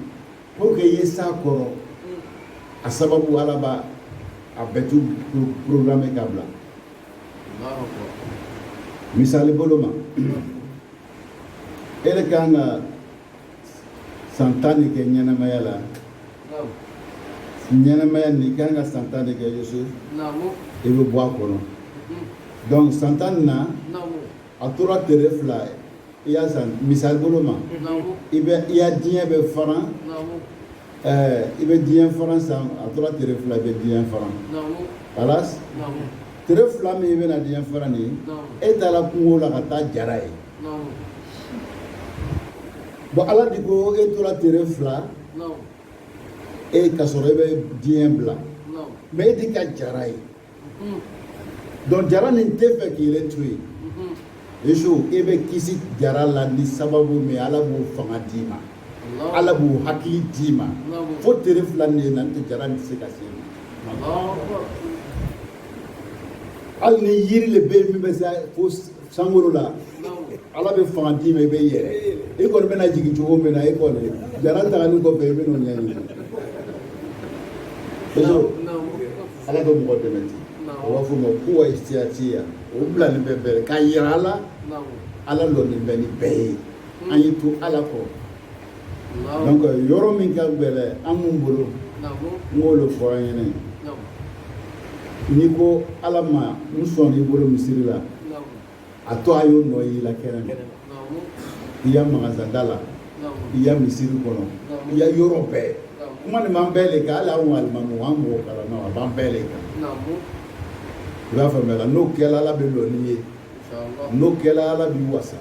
pour que i ye s'a kɔrɔ a sababu ala b'a a bɛɛ tu programmer k'a bila misali bolo ma e de kan ka san tan de kɛ ɲɛnamaya la ɲɛnamaya nin kan ka san tan de kɛ yosu i bɛ bɔ a kɔnɔ donc san tan nin na A tora tere fila ye sisan misali bolo ma i i ya diɲɛ bɛ fara i bɛ diɲɛ fara san a tora tere fila i bɛ diɲɛ fara voilà tere fila min i bɛna diɲɛ fara ni e taara kungo la ka taa jara ye bon ala de ko e tora tere fila e ka sɔrɔ e bɛ diɲɛ bila mɛ e di ka jara ye donc jara nin tɛ fɛ k'i yɛrɛ to yen yesu e bɛ kisi jara la ni sababu min ala b'o fanga d'i ma ala b'o hakili d'i ma fo tere fila nin na n'o tɛ jara nin tɛ se ka se i ma hali ni yiri le bɛ yen min bɛ se fo sankolo la ala bɛ fanga d'i ma i bɛ yɛlɛ i kɔni bɛna jigin cogo min na i kɔni jara tagali kɔfɛ i bɛ n'o ɲɛɲini ala bɛ mɔgɔ dɛmɛ ten o b'a fɔ ma ko wa siyatiya o bila nin bɛɛ bɛɛ k'a yira an la ala lɔni bɛ nin bɛɛ ye hmm. an y'i to ala kɔ donc yɔrɔ min ka gɛlɛn an mun bolo n b'o le fɔ an ɲɛna n'i ko ala ma n sɔn n'i bolo misiri la a to a y'o nɔ y'i la kɛnɛ ma i ya magasa da la i ya misiri kɔnɔ i ya yɔrɔ bɛɛ kuma nin b'an bɛɛ le kan hali anw alimami an mɔgɔ kalan na a b'an bɛɛ le kan i b'a faamuya la n'o kɛla ala bɛ lɔ n'i ye n'o kɛla ala b'i wasa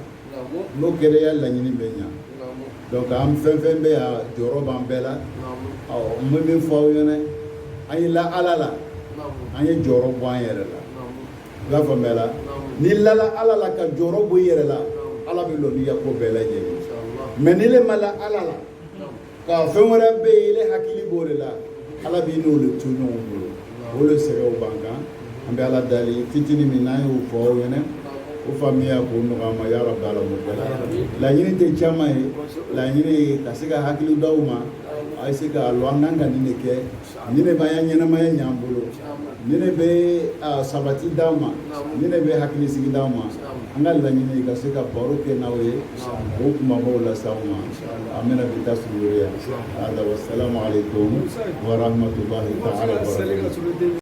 n'o kɛla i ya laɲini bɛ ɲa donc an fɛn fɛn bɛ yan jɔrɔ b'an bɛɛ la awɔ n bɛ min fɔ aw ɲɛna an ye la ala la an ye jɔrɔ bɔ an yɛrɛ la n y'a faamuya la n'i lala ala la ka jɔrɔ bɔ i yɛrɛ la ala bɛ lɔ n'i ya ko bɛɛ lajɛlen ye n'ile ma la ala la ka fɛn wɛrɛ bɛ yen ile hakili b'o le la ala b'i n'o le to ɲɔgɔn bolo o le sɛgɛnw b'an kan an bɛ ala dali fitini min n'an y'o fɔ aw ɲɛna o faamuya k'o nɔgɔya an ma yɔrɔ bɛɛ la mɔgɔ la laɲini tɛ caman ye laɲini ye ka se ka hakili d'aw ma a ye se k'a lɔn an kan ka nin le kɛ nin le b'an ya ɲɛnamaya ɲ'an bolo nin le bɛ sabati d'an ma nin le bɛ hakilisigi d'an ma an ka laɲini ye ka se ka baro kɛ n'aw ye o kumabaw lase aw ma an bɛna bi ta sugoro yan hada wasalamu aleykum warahmatulahi taala wabarakatu